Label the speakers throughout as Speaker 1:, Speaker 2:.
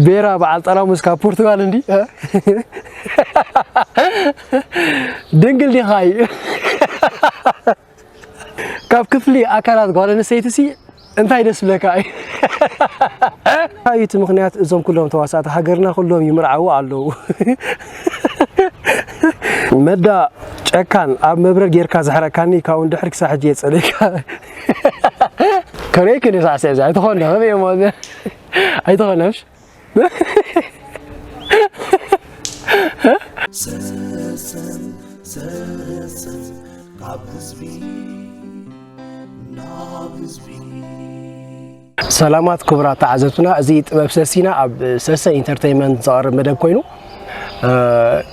Speaker 1: ቤራ በዓል ጠራሙስ ካብ ፖርቱጋል እንዲ ድንግል ዲኻ እዩ ካብ ክፍሊ ኣካላት ጓል ኣንስተይቲሲ እንታይ ደስ ዝብለካ እዩ? እንታይ እዩ እቲ ምኽንያት እዞም ኩሎም ተዋሳእቲ ሃገርና ኩሎም ይምርዓዉ ኣለዉ? መዳ ጨካን ኣብ መብረር ጌርካ ዘሕረካኒ ካብኡ ንድሕር ክሳብ ሕጂ እየ ዝጸልየካ። ከርእየኪ እኔ ሳዕሲዕ እዚ ኣይተኾነ ከመይ እየ እሞ እዚ ኣይተኾነሽ ዘሰን ዘሰን ካብ ህዝቢ ናብ ህዝቢ ሰላማት ክቡራት ተዓዘብትና እዚ ጥበብ ሰሲና ኣብ ሰሰ ኢንተርቴንመንት ዝቐርብ መደብ ኮይኑ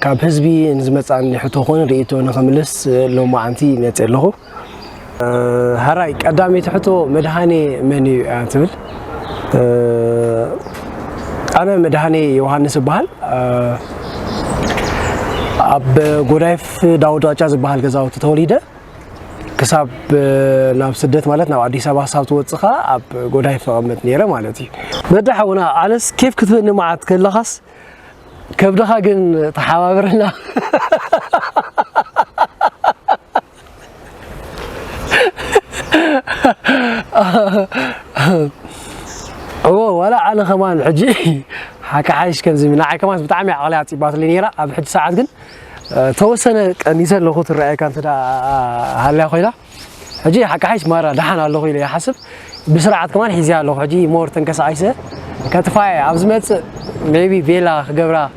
Speaker 1: ካብ ህዝቢ ንዝመፃኒ ሕቶ ኮነ ርእቶ ንክምልስ ሎማዓንቲ ይመፅእ ኣለኹ ሀራይ ቀዳመይቲ ሕቶ መድኃኔ መን እዩ እያ ትብል ኣነ መድኃኔ ዮሃንስ እበሃል ኣብ ጎዳይፍ ዳውድ ዋጫ ዝበሃል ገዛውቲ ተወሊደ ክሳብ ናብ ስደት ማለት ናብ ኣዲስ ኣበባ ክሳብ ትወፅእ ከዓ ኣብ ጎዳይ ፈቐመጥ ነይረ ማለት እዩ በዳ ሓውና ኣነስ ኬፍ ክትበኒ መዓት ከለኻስ ከብድኻ ግን ተሓባብረና እዎ ዋላ ኣነ ከማን ሕጂ ሓካሓይሽ ከምዚ ንዓይ ከማን ብጣዕሚ ዓቕለይ ኣፅባትለይ ነይራ ኣብ ሕጂ ሰዓት ግን ተወሰነ ቀኒሰ ኣለኹ ትረኣየካ እንተ ሃልያ ኮይና ሕጂ ሓካሓይሽ ማራ ደሓን ኣለኹ ኢለ ይሓስብ ብስርዓት ከማን ሒዘያ ኣለኹ ሕጂ ሞር ተንቀሳቒሰ ከጥፋየ ኣብ ዝመፅእ ሜቢ ቬላ ክገብራ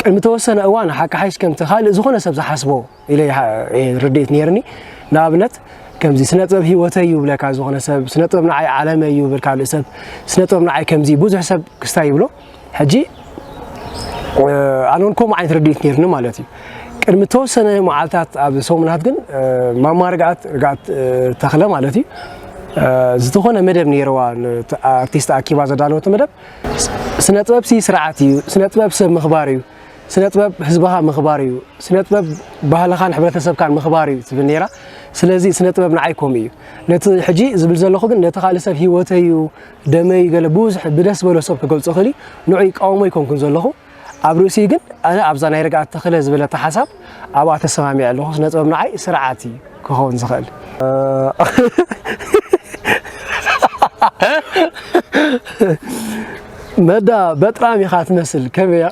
Speaker 1: ቅድሚ ተወሰነ እዋን ሓቂ ሓይሽ ከምቲ ካልእ ዝኾነ ሰብ ዝሓስቦ ኢለ ርድኢት ነይርኒ ንኣብነት ከምዚ ስነ ጥበብ ህይወተይ እዩ ብለካ ዝኾነ ሰብ ስነ ጥበብ ንዓይ ዓለመ እዩ ብል ካልእ ሰብ ስነ ጥበብ ንዓይ ከምዚ ብዙሕ ሰብ ክስታይ ይብሎ ሕጂ ኣነ እውን ከምኡ ዓይነት ርድኢት ነይርኒ ማለት እዩ ቅድሚ ተወሰነ መዓልታት ኣብ ሰሙናት ግን ማማ ርግኣት ርግኣት ተኽለ ማለት እዩ ዝኾነ መደብ ነይረዋ ኣርቲስት ኣኪባ ዘዳለወቶ መደብ ስነጥበብሲ ስርዓት እዩ፣ ስነጥበብ ሰብ ምኽባር እዩ፣ ስነጥበብ ህዝብኻ ምኽባር እዩ፣ ስነጥበብ ባህልኻን ሕብረተሰብካን ምኽባር እዩ ትብል ነይራ። ስለዚ ስነጥበብ ንዓይ ከምኡ እዩ። ነቲ ሕጂ ዝብል ዘለኹ ግን ነቲ ካልእ ሰብ ህይወተይ እዩ፣ ደመይ እዩ ገለ ብዙሕ ብደስ ዝበሎ ሰብ ክገልጾ ይኽእል እዩ፣ ንዑ ይቃወሞ ኣይኮንኩን ዘለኹ። ኣብ ርእሲኡ ግን ኣነ ኣብዛ ናይ ርግኣት ተኽለ ዝበለታ ሓሳብ ኣብኣ ተሰማሚዐ ኣለኹ። ስነ ጥበብ ንዓይ ስርዓት እዩ ክኸውን ዝኽእል። መዳ በጥራም ኢኻ ትመስል ከመይ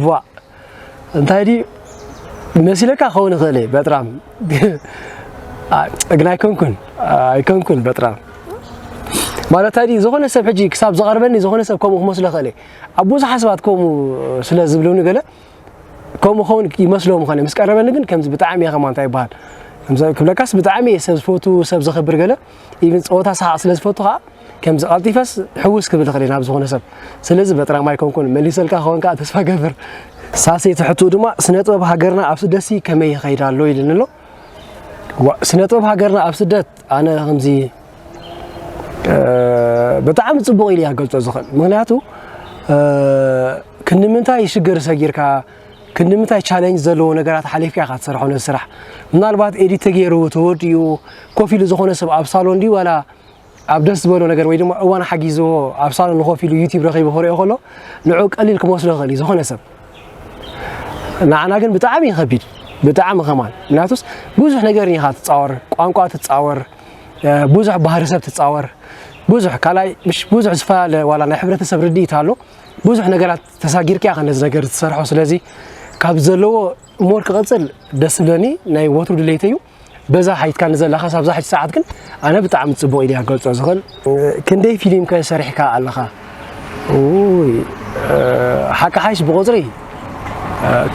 Speaker 1: ቫእ እንታይ ድዩ መሲለካ ክኸውን ይኽእል እየ በጥራም ግን ኣይኮንኩን ኣይኮንኩን በጥራም ማለት ድዩ ዝኾነ ሰብ ሕጂ ክሳብ ዝቐርበኒ ዝኾነ ሰብ ከምኡ ክመስሎ ክእል እየ ኣብ ብዙሓ ሰባት ከምኡ ስለ ዝብሉኒ ገለ ከምኡ ኸውን ይመስሎም ኾነ ምስ ቀረበኒ ግን ከምዚ ብጣዕሚ እየ ከማ እንታይ ይበሃል ክብለካስ ብጣዕሚ እየ ሰብ ዝፈቱ ሰብ ዘኽብር ገለ ኢቭን ፀወታ ሰሓቕ ስለ ዝፈቱ ከዓ ከምዚ ቀልጢፈስ ሕውስ ክብል ይኽእል ናብ ዝኾነ ሰብ ስለዚ በጥራም ኣይኮንኩን መሊሰልካ ክኸውን ከዓ ተስፋ ገብር ሳሴ ትሕቱ ድማ ስነ ጥበብ ሃገርና ኣብ ስደሲ ከመይ ይኸይድ ኣሎ ኢልን ኣሎ ስነ ጥበብ ሃገርና ኣብ ስደት ኣነ ከምዚ ብጣዕሚ ፅቡቕ ኢሉ እያ ገልፆ ዝኽእል ምክንያቱ ክንምንታይ ሽግር ሰጊርካ ክንድምታይ ቻለንጅ ዘለዎ ነገራት ሓሊፍካ ኢኻ ትሰርሖ ነዚ ስራሕ ምናልባት ኤዲት ተገይሩ ተወዲኡ ኮፍ ኢሉ ዝኾነ ሰብ ኣብ ሳሎን ድዩ ዋላ ኣብ ደስ ዝበሎ ነገር ወይ ድማ እዋን ሓጊዝዎ ኣብ ሳሎን ኮፍ ኢሉ ዩቲብ ረኺቡ ክሪኦ ከሎ ንዑ ቀሊል ክመስሎ ይኽእል እዩ ዝኾነ ሰብ ንዓና ግን ብጣዕሚ ይኸቢድ ብጣዕሚ ከማን ምክንያቱስ ብዙሕ ነገር ኢኻ ትፃወር ቋንቋ ትፃወር ብዙሕ ባህሪ ሰብ ትፃወር ብዙሕ ካልኣይ ብዙሕ ዝፈላለ ዋላ ናይ ሕብረተሰብ ርድኢት ኣሎ ብዙሕ ነገራት ተሳጊርካ ኢኻ ነዚ ነገር ዝትሰርሖ ስለዚ ካብ ዘለዎ ሞር ክቐፅል ደስ ዝብለኒ ናይ ወትሩ ድሌት እዩ በዛ ሓይትካ ንዘላኻ ሳብዛ ሓይቲ ሰዓት ግን ኣነ ብጣዕሚ ፅቡቕ ኢለ ክገልፆ ዝኽእል ክንደይ ፊልም ከ ሰሪሕካ ኣለኻ ሓቂ ሓይሽ ብቑፅሪ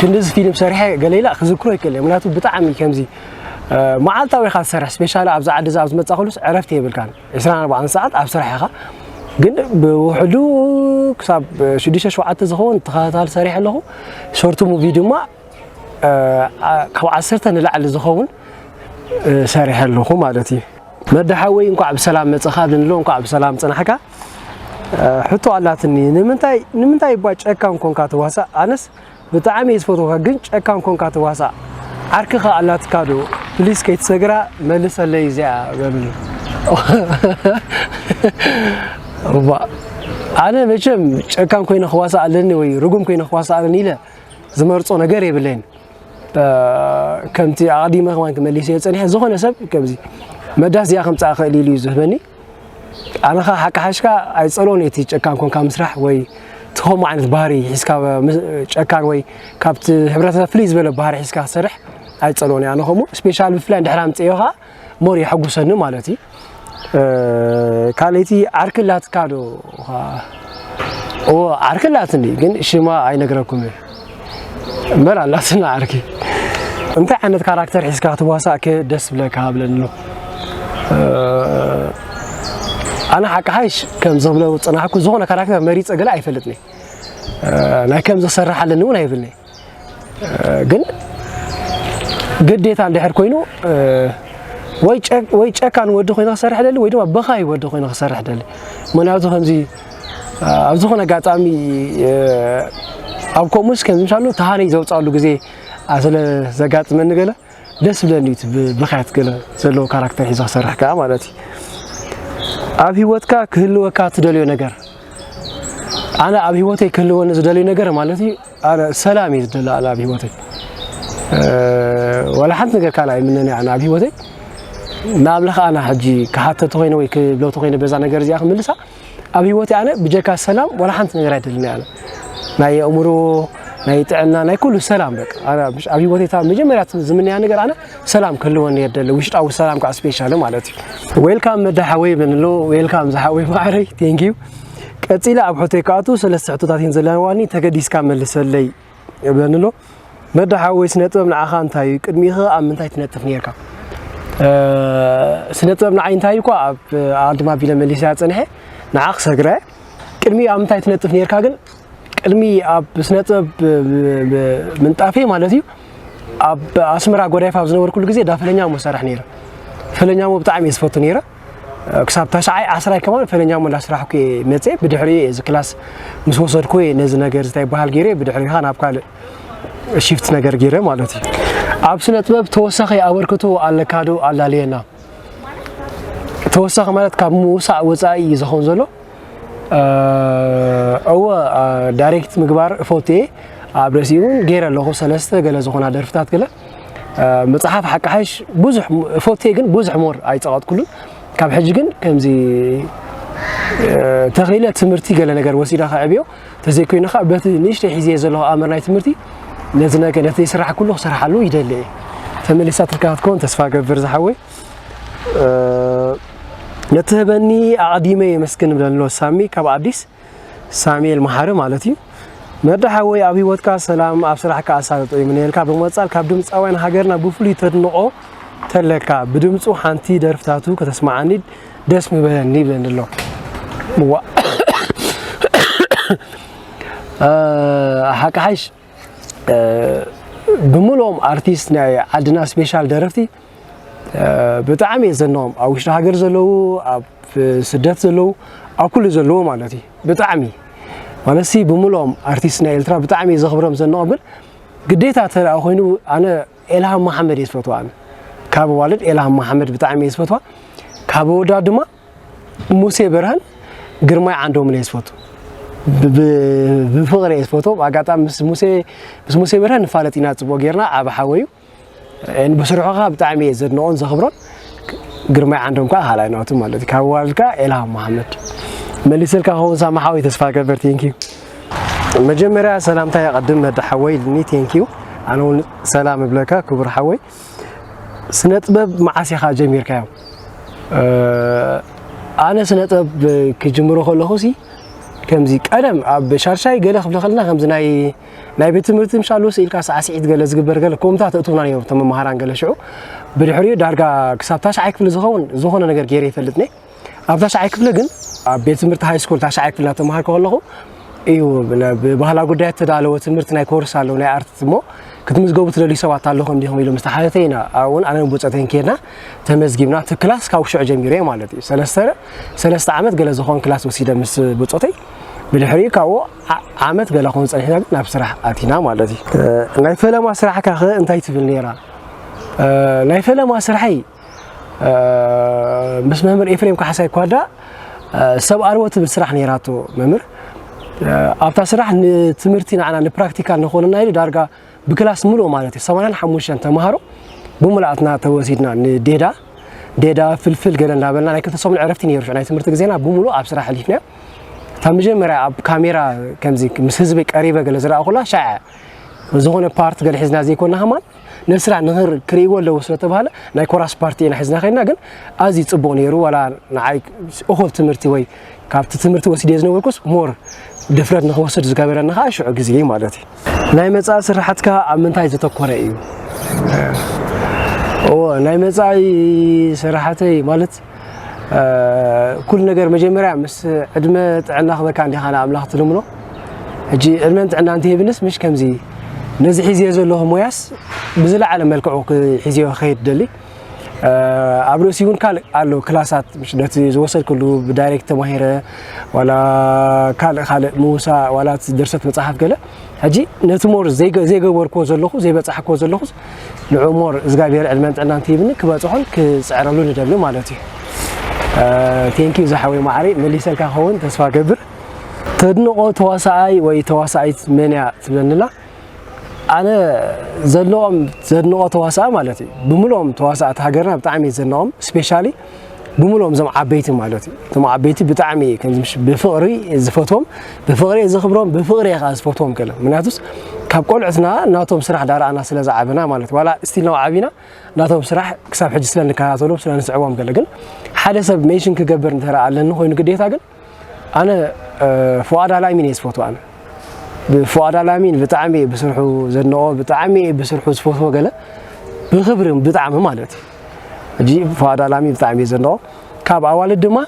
Speaker 1: ክንዲዚ ፊልም ሰሪሐ ገለኢላ ክዝክሮ ይክእል እየ ምክንያቱ ብጣዕሚ ከምዚ መዓልታዊ ኢኻ ዝሰርሕ ስፔሻሊ ኣብዚ ዓዲ እዚ ኣብ ዝመፃ ኩሉስ ዕረፍቲ የብልካን ዕስራን ኣርባዓን ሰዓት ኣብ ስራሕ ኢኻ ግን ብውሕዱ ክሳብ ሽዱሽተ ሸውዓተ ዝኸውን ተኸታታሊ ሰሪሐ ኣለኹ ሾርት ሙቪ ድማ ካብ ዓሰርተ ንላዕሊ ዝኸውን ሰሪሐ ኣለኹ ማለት እዩ መዳ ሓወይ እንኳዕ ብሰላም መፅኻ ድንሎ እንኳዕ ብሰላም ፅናሕካ ሕቶ ኣላትኒ ንምንታይ ንምንታይ እባ ጨካን ኮንካ ትዋሳእ ኣነስ ብጣዕሚ እየ ዝፈትወካ ግን ጨካን ኮንካ ትዋሳእ ዓርክኻ ኣላትካ ዶ ፕሊስ ከይትሰግራ መልሰለይ እዚኣ በልኒ እባ ኣነ መቸም ጨካን ኮይነ ክዋሳእ ኣለኒ ወይ ርጉም ኮይነ ክዋሳእ ኣለኒ ኢለ ዝመርጾ ነገር የብለይን ከምቲ ኣቐዲመ ከማን ክመሊስ እየ ጸኒሐ ዝኾነ ሰብ ከምዚ መዳስ እዚኣ ከምጻእ ክእል ኢሉ እዩ ዝህበኒ ኣነኻ ሓቂ ሓሽካ ኣይጸሎን እቲ ጨካን ኮንካ ምስራሕ ወይ እቲ ከምኡ ዓይነት ባህሪ ሒዝካ ጨካን ወይ ካብቲ ሕብረተሰብ ፍልይ ዝበለ ባህሪ ሒዝካ ክሰርሕ ኣይጸሎን ኣነ ከምኡ ስፔሻል ብፍላይ ድሕር ኣምጽዮ ኸዓ ሞር የሐጉሰኒ ማለት እዩ ካልይቲ ዓርኪ ኣላትካ ዶ ዓርኪ ኣላትኒ ግን ሽማ ኣይነግረኩም እየ በል ኣላትና ዓርኪ እንታይ ዓይነት ካራክተር ሒዝካ ክትዋሳእከ ደስ ብለካ ብለኒ ኣሎ ኣነ ሓቂ ሃይሽ ከም ዝብሎ ፅናሕኩ ዝኾነ ካራክተር መሪፀ ገለ ኣይፈልጥኒ ናይ ከም ዝሰርሕ ኣለኒ እውን ኣይብልኒ ግን ግዴታ እንድሕር ኮይኑ ወይ ጨካን ወዲ ኮይነ ክሰርሕ ደሊ ወይ ድማ በኻይ ወዲ ኮይነ ክሰርሕ ደሊ ምክንያቱ ከምዚ ኣብ ዝኾነ ኣጋጣሚ ኣብ ከምኡስ ከምሻሉ ተሃነይ ዘውፃሉ ግዜ ስለ ዘጋጥመኒ ገለ ደስ ብለኒ እቲ ብብኽያት ገለ ዘለዎ ካራክተር ሒዞ ክሰርሕ ከዓ ማለት እዩ ኣብ ሂወትካ ክህልወካ ትደልዮ ነገር ኣነ ኣብ ሂወተይ ክህልወኒ ዝደልዩ ነገር ማለት እዩ ኣነ ሰላም እዩ ዝደለ ኣነ ኣብ ሂወተይ ዋላ ሓንቲ ነገር ካልኣ ይምነን ኣነ ኣብ ሂወተይ ንኣምላኽ ኣነ ሕጂ ክሓተቲ ኮይነ ወይ ክብለቲ ኮይነ በዛ ነገር እዚኣ ክምልሳ ኣብ ሂወተይ ኣነ ብጀካ ሰላም ዋላ ሓንቲ ነገር ኣይደልን ኣነ ናይ ኣእምሮ ናይ ጥዕና ናይ ኩሉ ሰላም በቃ ኣነ ኣብ ኣብ ሂወተይ እታ መጀመርያ ዝምነያ ነገር ኣነ ሰላም ክህልወኒ እየ ደለ ውሽጣዊ ሰላም ከዓ ስፔሻሊ ማለት እዩ ዌልካም መዳ ሓወይ ብለንሎ ዌልካም ዝሓወይ ማዕረይ ቴንኪዩ ቀፂለ ኣብ ሕቶይ ክኣቱ ሰለስተ ሕቶታት እየን ዘለዋኒ ተገዲስካ መልሰለይ የብለኒ ኣሎ መዳ ሓወይ ስነ ጥበብ ንዓኻ እንታይ እዩ ቅድሚኸ ኣብ ምንታይ ትነጥፍ ነርካ ስነ ጥበብ ንዓይ እንታይ እኳ ኣብ ኣድማ ቢለ መሊስያ ፀንሐ ንዓ ክሰግረ ቅድሚ ኣብ ምንታይ ትነጥፍ ነርካ ግን ቅድሚ ኣብ ስነ ጥበብ ምንጣፌ ማለት እዩ ኣብ ኣስመራ ጎዳይፍ ኣብ ዝነበርኩሉ ግዜ ዳፈለኛ ሞ ሰራሕ ነይረ ፈለኛ ሞ ብጣዕሚ እየ ዝፈቱ ነይረ ክሳብ ታሽዓይ ዓስራይ ከማን ፈለኛ እሞ እንዳስራሕኩ እየ መፅኤ ብድሕሪኡ እየ እዚ ክላስ ምስ ወሰድኩ እየ ነዚ ነገር ዝታይ በሃል ገይረ ብድሕሪኻ ናብ ካልእ ሽፍት ነገር ገይረ ማለት እዩ ኣብ ስነ ጥበብ ተወሳኺ ኣበርክቶ ኣለካ ዶ ኣላልየና ተወሳኺ ማለት ካብ ምውሳእ ወፃኢ እዩ ዝኾን ዘሎ እወ ዳይሬክት ምግባር እፈቱ እየ ኣብ ርእሲ እውን ገይረ ኣለኹ ሰለስተ ገለ ዝኾና ደርፍታት ገለ መፅሓፍ ሓቂ ሓሽ ብዙሕ እፈቱ እየ ግን ብዙሕ ሞር ኣይፀቐጥኩሉን ካብ ሕጂ ግን ከምዚ ተኺለ ትምህርቲ ገለ ነገር ወሲዳ ከዕብዮ ተዘይኮይኑ ከዓ በቲ ንእሽተይ ሒዘ ዘለኹ ኣምር ናይ ትምህርቲ ነቲ ነገር ነቲ ስራሕ ኩሉ ክሰርሓሉ ይደሊ እየ ተመሊሳትልካ ክትከውን ተስፋ ገብር ዝሓወይ ነትህበኒ ኣቕዲመ የመስግን ብለሎ ሳሚ ካብ ኣዲስ ሳሙኤል መሓሪ ማለት እዩ መዳ ሓወይ ኣብ ህይወትካ ሰላም ኣብ ስራሕካ ኣሳልጦ ይምነየልካ ብምቕፃል ካብ ድምፃውያን ሃገርና ብፍሉይ ተድንቖ ተለካ ብድምፁ ሓንቲ ደርፍታቱ ከተስማዓኒ ደስ ምበለኒ ይብለኒ ኣሎ ምዋ ሓቂ ሓይሽ ብምልኦም ኣርቲስት ናይ ዓድና ስፔሻል ደረፍቲ ብጣዕሚ እየ ዘንኦም ኣብ ውሽጢ ሃገር ዘለዉ ኣብ ስደት ዘለዉ ኣብ ኩሉ ዘለዎ ማለት እዩ ብጣዕሚ ማለት ሲ ብምልኦም ኣርቲስት ናይ ኤልትራ ብጣዕሚ እየ ዘኽብሮም ዘንኦም ግን ግዴታ ተደኣ ኮይኑ ኣነ ኤልሃም መሓመድ እየ ዝፈትዋ ኣነ ካብ ኣዋልድ ኤልሃም መሓመድ ብጣዕሚ እየ ዝፈትዋ ካብ ኣወዳት ድማ ሙሴ ብርሃን ግርማይ ዓንዶምን እየ ዝፈቱ ብፍቕሪ እየ ዝፈቶ ኣጋጣሚ ምስ ሙሴ ምስ ሙሴ ብርሃን ንፋለጥ ኢና ፅቡቅ ጌርና ዓብ ሓወዩ ብስርሑ ከዓ ብጣዕሚ እየ ዘድንቆን ዘኽብሮን ግርማይ ዓንዶም ከዓ ካልኣይ ናቱ ማለት እዩ ካብ ዋልድ ከዓ ኤልሃም መሓመድ መሊሰልካ ከውን ሳማ ሓወይ ተስፋ ገበር ቴንኪዩ መጀመርያ ሰላምታ የቐድም መዳ ሓወይ ልኒ ቴንኪዩ ኣነ እውን ሰላም እብለካ ክቡር ሓወይ ስነጥበብ መዓስ ኢኻ ጀሚርካዮ? ኣነ ስነጥበብ ክጅምሮ ከለኹ ሲ ከምዚ ቀደም ኣብ ሻርሻይ ገለ ክፍለ ከለና ከምዚ ናይ ናይ ቤት ትምህርቲ ምሻሉ ስኢልካ ሳዕስዒት ገለ ዝግበር ገለ ኮምታ ተእትውና ነይሩ ተመምሃራን ገለ ሽዑ ብድሕሪኡ ዳርጋ ክሳብ ታሽዓይ ክፍሊ ዝኸውን ዝኾነ ነገር ገይረ ይፈልጥ ነይ ኣብ ታሽዓይ ክፍሊ ግን ኣብ ቤት ትምህርቲ ሃይ ስኩል ታሽዓይ ክፍሊ እናተምሃርኩ ከለኹ እዩ ብባህላዊ ጉዳያት ተዳለወ ትምህርቲ ናይ ኮርስ ኣለዉ ናይ ኣርት እሞ ክትምዝገቡ ትደልዩ ሰባት ኣለኹም እንዲኹም ኢሎም ምስ ተሓተተ ኢና ኣብኡውን ኣነ ብፆተይን ከድና ተመዝጊብና እቲ ክላስ ካብ ሽዑ ጀሚሩ እየ ማለት እዩ ሰለስተ ሰለስተ ዓመት ገለ ዝኾን ክላስ ወሲደ ምስ ብፆተይ ብድሕሪኡ ካብኡ ዓመት ገለ ኾን ፀኒሕና ግን ናብ ስራሕ ኣቲና ማለት እዩ ናይ ፈለማ ስራሕካ ኸ እንታይ ትብል ነይራ ናይ ፈለማ ስራሐይ ምስ መምህር ኤፍሬም ካሕሳይ ኳዳ ሰብ ኣልቦ ትብል ስራሕ ነይራቶ መምህር ኣብታ ስራሕ ንትምህርቲ ንዓና ንፕራክቲካል ንኾነና ኢሉ ዳርጋ ብክላስ ምሉእ ማለት እዩ ሰማንያን ሓሙሽተን ተምሃሮ ብሙሉኣትና ተወሲድና ንዴዳ ዴዳ ፍልፍል ገለ እንዳበልና ናይ ክልተ ሰሙን ዕረፍቲ ነይሩ ናይ ትምህርቲ ግዜና ብምሉእ ኣብ ስራሕ ኣሊፍና እታ መጀመርያ ኣብ ካሜራ ከምዚ ምስ ህዝቢ ቀሪበ ገለ ዝረኣኹላ ሻዕ ዝኾነ ፓርት ገለ ሒዝና ዘይኮና ሃማን ነስራ ንክር ክርእይዎ ኣለዎ ስለተባህለ ናይ ኮራስ ፓርቲ ኢና ሒዝና ከይድና ግን ኣዝዩ ጽቡቕ ነይሩ ዋላ ንዓይ እኹል ትምህርቲ ወይ ካብቲ ትምህርቲ ወሲደ ዝነበርኩስ ሞር ድፍረት ንክወስድ ዝገበረኒ ከዓ ሽዑ ግዜ እዩ ማለት እዩ ናይ መጻኢ ስራሕትካ ኣብ ምንታይ ዘተኮረ እዩ ናይ መጻኢ ስራሕተይ ማለት ኩሉ ነገር መጀመርያ ምስ ዕድመ ጥዕና ክበካ እንዲኻ ንኣምላኽ ትልምኖ ሕጂ ዕድመን ጥዕና እንተሂብንስ ምሽ ከምዚ ነዚ ሒዝዮ ዘለኹ ሞያስ ብዝለዓለ መልክዑ ሒዝዮ ክኸይድ ደሊ ኣብ ርእሲ እውን ካልእ ኣሎ ክላሳት ምሽ ነቲ ዝወሰድክሉ ብዳይሬክት ተማሂረ ዋላ ካልእ ካልእ ምውሳእ ዋላ ድርሰት መፅሓፍ ገለ ሕጂ ነቲ ሞር ዘይገበርክዎ ዘለኹ ዘይበፃሕክዎ ዘለኹ ንዑ ሞር እዝጋብሄር ዕድመን ጥዕናን ትሂብኒ ክበፅሖን ክፅዕረሉ ንደሊ ማለት እዩ ቴንኪዩ ዝሓወይ ማዕረይ መሊሰልካ ክኸውን ተስፋ ገብር ተድንቆ ተዋሳኣይ ወይ ተዋሳኣይት መን እያ ትብለኒላ ኣነ ዘለዎም ዘድንቆ ተዋሳኣ ማለት እዩ ብምልኦም ተዋሳእቲ ሃገርና ብጣዕሚ እየ ዘድንቆም ስፔሻሊ ብምልኦም እዞም ዓበይቲ ማለት እዩ እቶም ዓበይቲ ብጣዕሚ ብፍቕሪ ዝፈትዎም ብፍቕሪ ዘኽብሮም ብፍቕሪ እየ ከዓ ዝፈትዎም ገለ ምክንያቱስ ካብ ቆልዑትና ናቶም ስራሕ ዳረኣና ስለ ዝዓብና ማለት ዋላ ስቲል ናብ ዓብና ናቶም ስራሕ ክሳብ ሕጂ ስለ ንከታተሎም ስለ ንስዕቦም ገለ ግን ሓደ ሰብ ሜሽን ክገብር እንተ ኣለኒ ኮይኑ ግዴታ ግን ኣነ ፍዋድ ኣላሚን እየ ዝፈትዎ ኣነ ብፍዋድ ኣላሚን ብጣዕሚ እየ ብስርሑ ዘድንቆ ብጣዕሚ እየ ብስርሑ ዝፈትዎ ገለ ብክብሪ ብጣዕሚ ማለት እዩ ሕጂ ፍዋድ ኣላሚን ብጣዕሚ እየ ዘድንቆ ካብ ኣዋልድ ድማ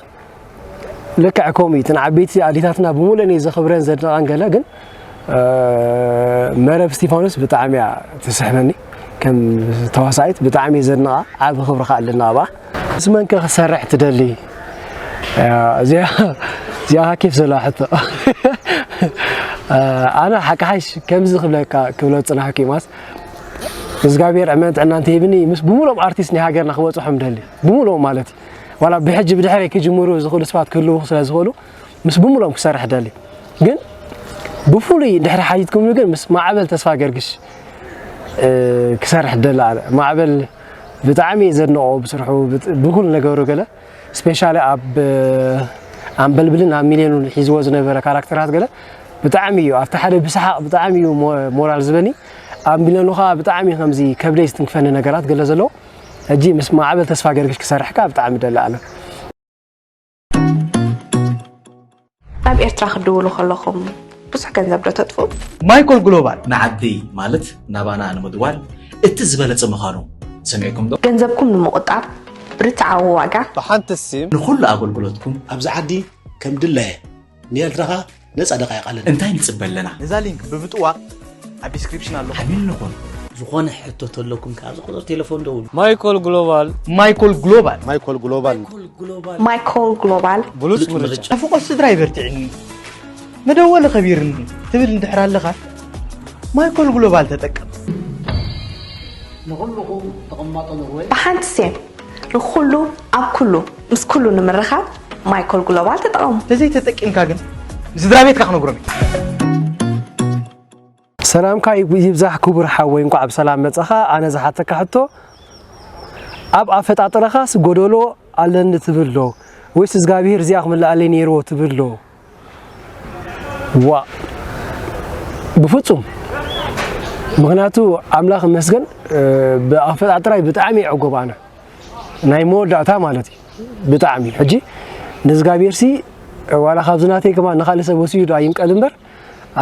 Speaker 1: ልክዕ ከምኡ እዩ እተን ዓበይቲ ኣዴታትና ብምሉእን እየ ዘኽብረን ዘድንቀን ገለ ግን መረብ እስቲፋኖስ ብጣዕሚ እያ ትስሕበኒ ከም ተዋሳኢት ብጣዕሚ እየ ዘድንቓ ዓብ ክብሪ ከዓ ኣለና ኣብኣ ምስ መንከ ክሰርሕ ትደሊ እዚኣ እዚኣ ኬፍ ዘለዋ ሕቶ ኣነ ሓቂ ሓሽ ከምዚ ክብለካ ክብሎ ፅናሕኩ ማስ እግዚኣብሔር ዕመን ጥዕና እንተሂብኒ ምስ ብምሎም ኣርቲስት ናይ ሃገርና ክበፅሖም ደሊ ብምሎም ማለት እዩ ዋላ ብሕጂ ብድሕሪ ክጅምሩ ዝኽእሉ ስባት ክህልዉ ስለዝኽእሉ ምስ ብምሎም ክሰርሕ ደሊ ግን ብፍሉይ ድሕሪ ሓይትኩም ግን ምስ ማዕበል ተስፋ ገርግሽ ክሰርሕ ደሊ ኣነ ማዕበል ብጣዕሚ ዘድንቆ ብስርሑ ብኩሉ ነገሩ ገለ ስፔሻሊ ኣብ ኣንበልብልን ኣብ ሚልዮኑን ሒዝዎ ዝነበረ ካራክተራት ገለ ብጣዕሚ እዩ ኣብቲ ሓደ ብሰሓቕ ብጣዕሚ እዩ ሞራል ዝበኒ ኣብ ሚልዮኑ ከዓ ብጣዕሚ ከምዚ ከብደይ ዝትንክፈኒ ነገራት ገለ ዘለዎ ሕጂ ምስ ማዕበል ተስፋ ገርግሽ ክሰርሕካ ብጣዕሚ ደሊ ኣነ ናብ ኤርትራ ክትድውሉ ከለኹም ብዙሕ ገንዘብ ዶ ተጥፉ? ማይኮል ግሎባል
Speaker 2: ንዓዲ ማለት ናባና ንምድዋል እቲ ዝበለጸ ምዃኑ ሰሚዕኩም ዶ? ገንዘብኩም ንምቑጣብ
Speaker 3: ርትዓዊ ዋጋ። ብሓንቲ ሲም
Speaker 2: ንኹሉ ኣገልግሎትኩም ኣብዚ ዓዲ
Speaker 4: ከም ድላየ። ንኤርትራ ከኣ ነጻ ደቃይቅ ኣለና እንታይ ንጽበ ኣለና ነዛ
Speaker 2: ሊንክ ብብጥዋቅ ኣብ ዲስክሪፕሽን ኣሎ ዓሚል ንኹን ዝኾነ ሕቶ
Speaker 4: ተለኩም ከኣ ኣብዚ ቁፅሪ ቴሌፎን ደውሉ ማይኮል ግሎባል
Speaker 2: ማይኮል ግሎባል ማይኮል ግሎባል ማይኮል ግሎባል ብሉፅ ምርጫ ኣፍቆ ስድራ ይበርትዕኒ መደወሊ ከቢርኒ ትብል እንድሕር ኣለኻ ማይኮል ግሎባል ተጠቀም
Speaker 4: ንኹልኹም ተቐማጦ ኖርወይ ብሓንቲ ሴን
Speaker 3: ንኹሉ ኣብ ኩሉ ምስ ኩሉ ንምርኻብ ማይኮል ግሎባል ተጠቐሙ። ተዘይተጠቂምካ ግን
Speaker 2: ንስድራቤትካ ክነግሮም እየ።
Speaker 1: ሰላምካ ይብዛሕ ክቡር ሓወይ እንኳዕ ብሰላም መጻኻ ኣነ ዝሓተካ ሕቶ ኣብ ኣፈጣጥረኻስ ጎደሎ ኣለኒ ትብል ዶ ወይስ እዝጋብሄር እዚኣ ክምልኣለይ ነይርዎ ትብል ዶ? ዋእ ብፍፁም ምኽንያቱ ኣምላኽ ይመስገን ብኣፈጣጥራይ ብጣዕሚ ዕጉብ ኣነ ናይ መወዳእታ ማለት እዩ ብጣዕሚ ሕጂ ንእግዚኣብሔርሲ ዋላ ካብዚ ናተይ ከማ ንካልእ ሰብ ወሲዱ ኣይምቀል እምበር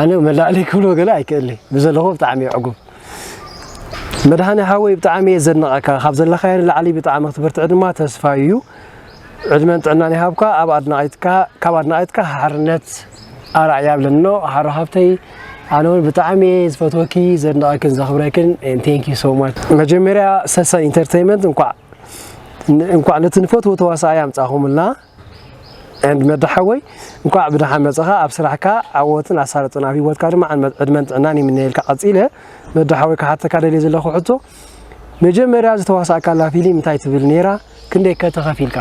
Speaker 1: ኣነ መላእለይ ክብሎ ገለ ኣይክእልይ ብዘለኹ ብጣዕሚ ዕጉብ መድሃኒ ሃወይ ብጣዕሚ እየ ዘድንቐካ ካብ ዘለኻዮ ንላዕሊ ብጣዕሚ ክትብርትዕ ድማ ተስፋ እዩ ዕድመን ጥዕናን ይሃብካ ኣብ ኣድናቂትካ ካብ ኣድናቂትካ ሓርነት ኣራይ ያብለኖ ሓሮ ሃብተይ ኣነ እውን ብጣዕሚ እየ ዝፈትወኪ ዘድንቀክን ዘኽብረክን ቴንክ ዩ ሶ ማች መጀመርያ ሰሰን ኢንተርቴንመንት እንኳዕ እንኳዕ ነቲ ንፈትዎ ተዋሳኣይ ኣምጻኹምልና ዕንድ መዳ ሓወይ እንኳዕ ብደሓን መጽኻ ኣብ ስራሕካ ዓወትን ኣሳልጦን ኣብ ሂወትካ ድማ ዕድመን ጥዕናን ይምነየልካ ቀጺለ መዳ ሓወይ ክሓተካ ደልየ ዘለኹ ሕቶ መጀመርያ ዝተዋሳእካላ ፊሊም እንታይ ትብል ኔራ ክንደይ ከ ተኸፊልካ?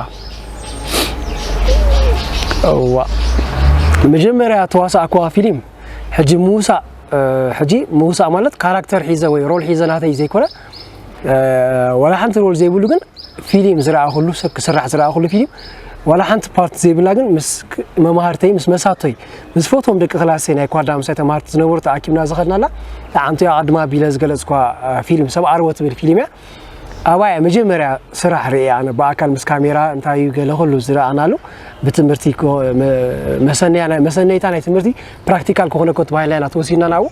Speaker 1: እዋእ መጀመርያ ተዋሳእኩዋ ፊሊም ሕጂ ምውሳእ ሕጂ ምውሳእ ማለት ካራክተር ሒዘ ወይ ሮል ሒዘ ናተይ ዘይኮነ ዋላ ሓንቲ ሮል ዘይብሉ ግን ፊሊም ዝረኣኹሉ ሰብ ክስራሕ ዝረኣኹሉ ፊሊም ዋላ ሓንቲ ፓርት ዘይብላ ግን ምስ መማህርተይ ምስ መሳቶይ ምስ ፈትዎም ደቂ ክላሰይ ናይ ኳዳ ምሳይ ተማሃርቲ ዝነበሩ ተኣኪብና ዝኸድናላ ለዓምቲ ኣቐድማ ቢለ ዝገለጽኳ ፊልም ሰብ ዓርቦ ትብል ፊልም እያ ኣባያ መጀመርያ ስራሕ ርእየ ኣነ ብኣካል ምስ ካሜራ እንታይ እዩ ገለ ኩሉ ዝረኣናሉ ብትምህርቲ መሰነይታ ናይ ትምህርቲ ፕራክቲካል ክኾነ ኮ ተባሂልና ኢና ተወሲድና ናብኡ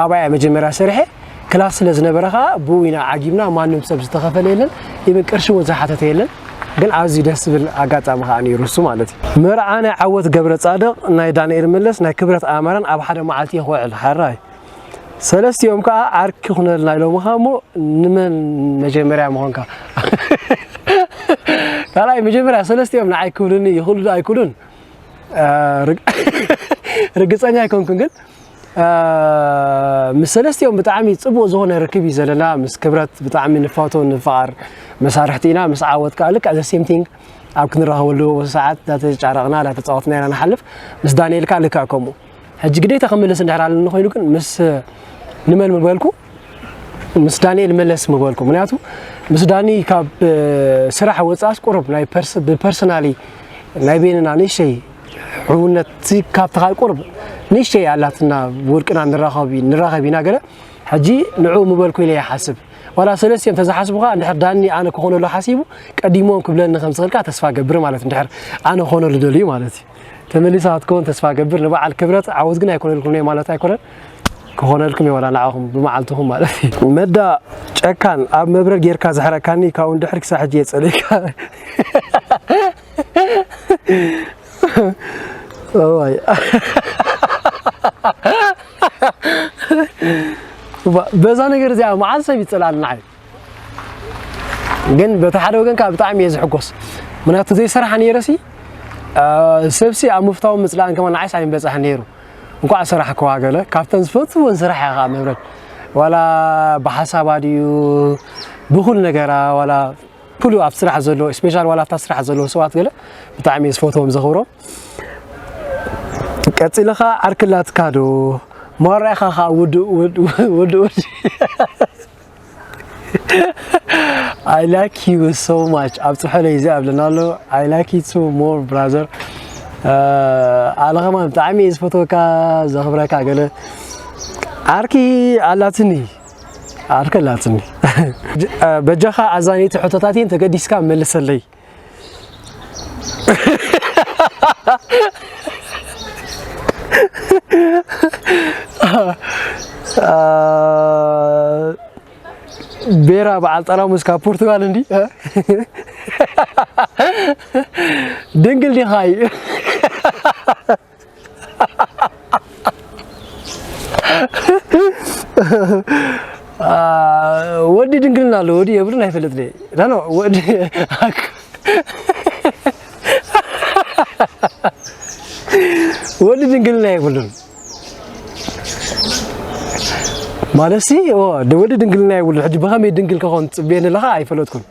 Speaker 1: ኣባይ እያ መጀመርያ ሰሪሐ ክላስ ስለ ዝነበረ ከዓ ብኡ ኢና ዓጊብና ማንም ሰብ ዝተኸፈለ የለን ኢብን ቅርሺ እውን ዝሓተተ የለን ግን ኣዝዩ ደስ ዝብል ኣጋጣሚ ከዓ ነይሩ እሱ ማለት እዩ መርዓ ናይ ዓወት ገብረ ጻድቕ ናይ ዳንኤል መለስ ናይ ክብረት ኣማረን ኣብ ሓደ መዓልቲ ይኽውዕል ሓራይ ሰለስቲኦም ከዓ ዓርኪ ኩነልና ኢሎምኻ እሞ ንመን መጀመርያ ምኾንካ ካልኣይ መጀመርያ ሰለስቲኦም ንዓይ ክብሉኒ ይኽእሉ ኣይክእሉን ርግፀኛ ኣይኮንኩን ግን ምስ ሰለስቲኦም ብጣዕሚ ጽቡቕ ዝኾነ ርክብ እዩ ዘለና ምስ ክብረት ብጣዕሚ ንፋቶ ንፍቓር መሳርሕቲ ኢና ምስ ዓወት ከዓ ልክዕ ዘ ሴም ቲንግ ኣብ ክንራኸበሉ ሰዓት ዳተጫረቕና ዳተፃወትና ኢና ንሓልፍ ምስ ዳንኤል ከዓ ልክዕ ከምኡ ሕጂ ግዴታ ክምልስ እንድሕር ኣለኒ ኮይኑ ግን ምስ ንመን ምበልኩ ምስ ዳንኤል መለስ ምበልኩ ምክንያቱ ምስ ዳኒ ካብ ስራሕ ወፃእስ ቁሩብ ናይ ብፐርሰናሊ ናይ ቤንና ንእሸይ ሕውነት ሲ ካብቲ ካብ ቁርብ ንእሽተይ ኣላትና ውልቅና ንራኸብ ንራኸብ ኢና ገለ ሕጂ ንዕኡ ምበልኩ ኢለ ይሓስብ ዋላ ሰለስቲኦም ተዝሓስቡካ እንድሕር ዳኒ ኣነ ክኾነሉ ሓሲቡ ቀዲሞም ክብለኒ ከም ዝኽእል ከዓ ተስፋ ገብር ማለት እንድሕር ኣነ ክኾነሉ ደልዩ ማለት እዩ ተመሊሳ ክትከውን ተስፋ ገብር ንበዓል ክብረት ዓወት ግን ኣይኮነልኩም ማለት ኣይኮነን ክኾነልኩም የወላ ንዓኹም ብመዓልትኹም ማለት እዩ መዳ ጨካን ኣብ መብረር ጌርካ ዘሕረካኒ ካብኡ እንድሕር ክሳብ ሕጂ የጸለይካ እዋይ በዛ ነገር እዚኣ መዓዝ ሰብ ይፅላል ንዓይ ግን በቲ ሓደ ወገን ከዓ ብጣዕሚ እየ ዝሕጎስ ምክንያቱ ዘይስራሕ ነይረሲ ሰብሲ ኣብ ምፍታውን ምፅላእን ከማ ንዓይስ ኣይምበፅሐ ነይሩ እንኳዕ ስራሕ ከዋገለ ካብተን ዝፈትወን ስራሕ እያ ከዓ መብረድ ዋላ ብሓሳባ ድዩ ብኩል ነገራ ዋላ ኩሉ ኣብ ስራሕ ዘሎ ስፔሻል ዋላ ኣብታ ስራሕ ዘለዉ ሰባት ገለ ብጣዕሚ እየ ዝፈትዎም ዘኽብሮም ቀፂለ ከዓ ዓርክላትካ ዶ ማራኢኻ ከዓ ውድእ ውድእ I like you so much ኣብ ፅሑለይ እዚ ኣብለና ኣሎ I like you too more brother ኣነ ከማን ብጣዕሚ እየ ዝፈትወካ ዘኽብረካ ገለ ዓርኪ ኣላትኒ ኣልከላትኒ በጃኻ ኣዛነይቲ ሕቶታት እየን ተገዲስካ መልሰለይ ቤራ በዓል ጠራሙስ ካብ ፖርቱጋል እንዲ ድንግል ዲኻ እዩ ወዲ ድንግልና ኣሎ ወዲ የብሉን ኣይፈልጥ ደ ዳኖ ወዲ ወዲ ድንግልና የብሉን ማለት ሲ ወዲ ድንግልና የብሉን ሕጂ ብኸመይ ድንግል ክኾን ትጽበየኒ ኣለኻ ኣይፈለጥኩን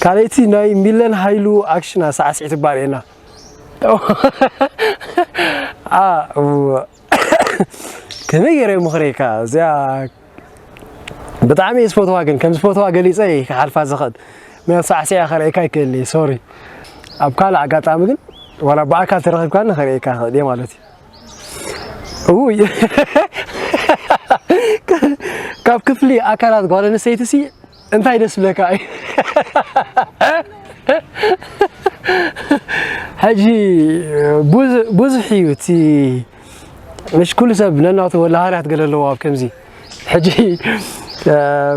Speaker 1: ካልኣይቲ ናይ ሚለን ሃይሉ ኣክሽና ሳዕስዒት እባ ርኤና ከመይ ገይረ ምኽረይካ እዚኣ ብጣዕሚ እየ ዝፈትዋ ግን ከም ዝፈትዋ ገሊፀ እየ ክሓልፋ ዝኽእል ምክንያቱ ሳዕስዒያ ከርእየካ ይክእል እየ ሶሪ ኣብ ካልእ ኣጋጣሚ ግን ዋላ ብኣካል ተረኺብካኒ ከርእየካ ይኽእል እየ ማለት እዩ ውይ ካብ ክፍሊ ኣካላት ጓል ኣንስተይቲ ሲ እንታይ ደስ ብለካ እዩ ሕጂ ብዙሕ እዩ እቲ مش ኩሉ ሰብ ነናቱ ወላሃርያት ገለ ኣለዎ ኣብ ከምዚ ሕጂ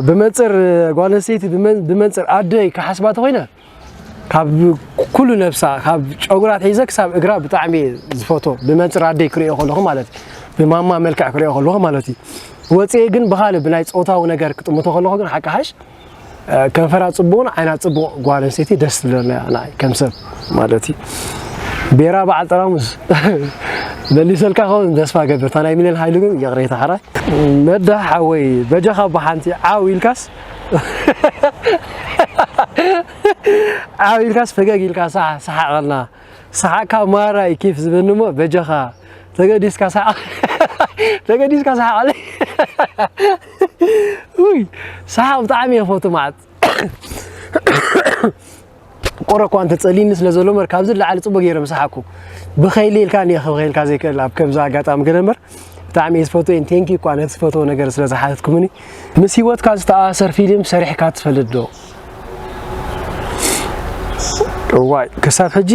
Speaker 1: ብመንፅር ጓል ኣንስተይቲ ብመንፅር ኣደይ ክሓስባ ተኮይነ ካብ ኩሉ ነብሳ ካብ ጨጉራ ኣትሒዘ ክሳብ እግራ ብጣዕሚ እየ ዝፈቶ ብመንፅር ኣደይ ክሪኦ ከለኹ ማለት እዩ ብማማ መልክዕ ክሪኦ ከለኹ ማለት እዩ ወፂኤ ግን ብካልእ ብናይ ፆታዊ ነገር ክጥምቶ ከለኹ ግን ሓቂ ሓሽ ከንፈራ ፅቡቕን ዓይና ፅቡቕ ጓል ኣንስተይቲ ደስ ትብለና እያ ንዓይ ከም ሰብ ማለት እዩ ቤራ በዓል ጠራሙስ መሊሰልካ ከውን ተስፋ ገብር እታ ናይ ሚልዮን ሃይሉ ግን ይቕሬታ ሓራይ መዳ ሓወይ በጃኻ ብሓንቲ ዓው ኢልካስ ዓው ኢልካስ ፈገግ ኢልካ ሳሕ ሰሓቐልና ሰሓቕካ ማራ እዩ ኬፍ ዝበኒ እሞ በጃኻ ተገዲስካ ሰሓቕ ተገዲስካ ሰሓቐለይ ውይ ሰሓቕ ብጣዕሚ እየ ፈቱ መዓት ቆረ እኳ እንተጸሊኒ ስለ ዘሎ እምበር ካብዚ ንላዕሊ ጽቡቅ ገይረ ምሳሓኩ ብኸይሊ ኢልካ እየ ክብኸይልካ ዘይክእል ኣብ ከምዚ ኣጋጣሚ ግን እምበር ብጣዕሚ እየ ዝፈትወን ቴንኪ እኳ ነቲ ዝፈትዎ ነገር ስለ ዝሓተትኩምኒ ምስ ሂወትካ ዝተኣሳሰር ፊልም ሰሪሕካ ትፈልጥ ዶ እዋይ ክሳብ ሕጂ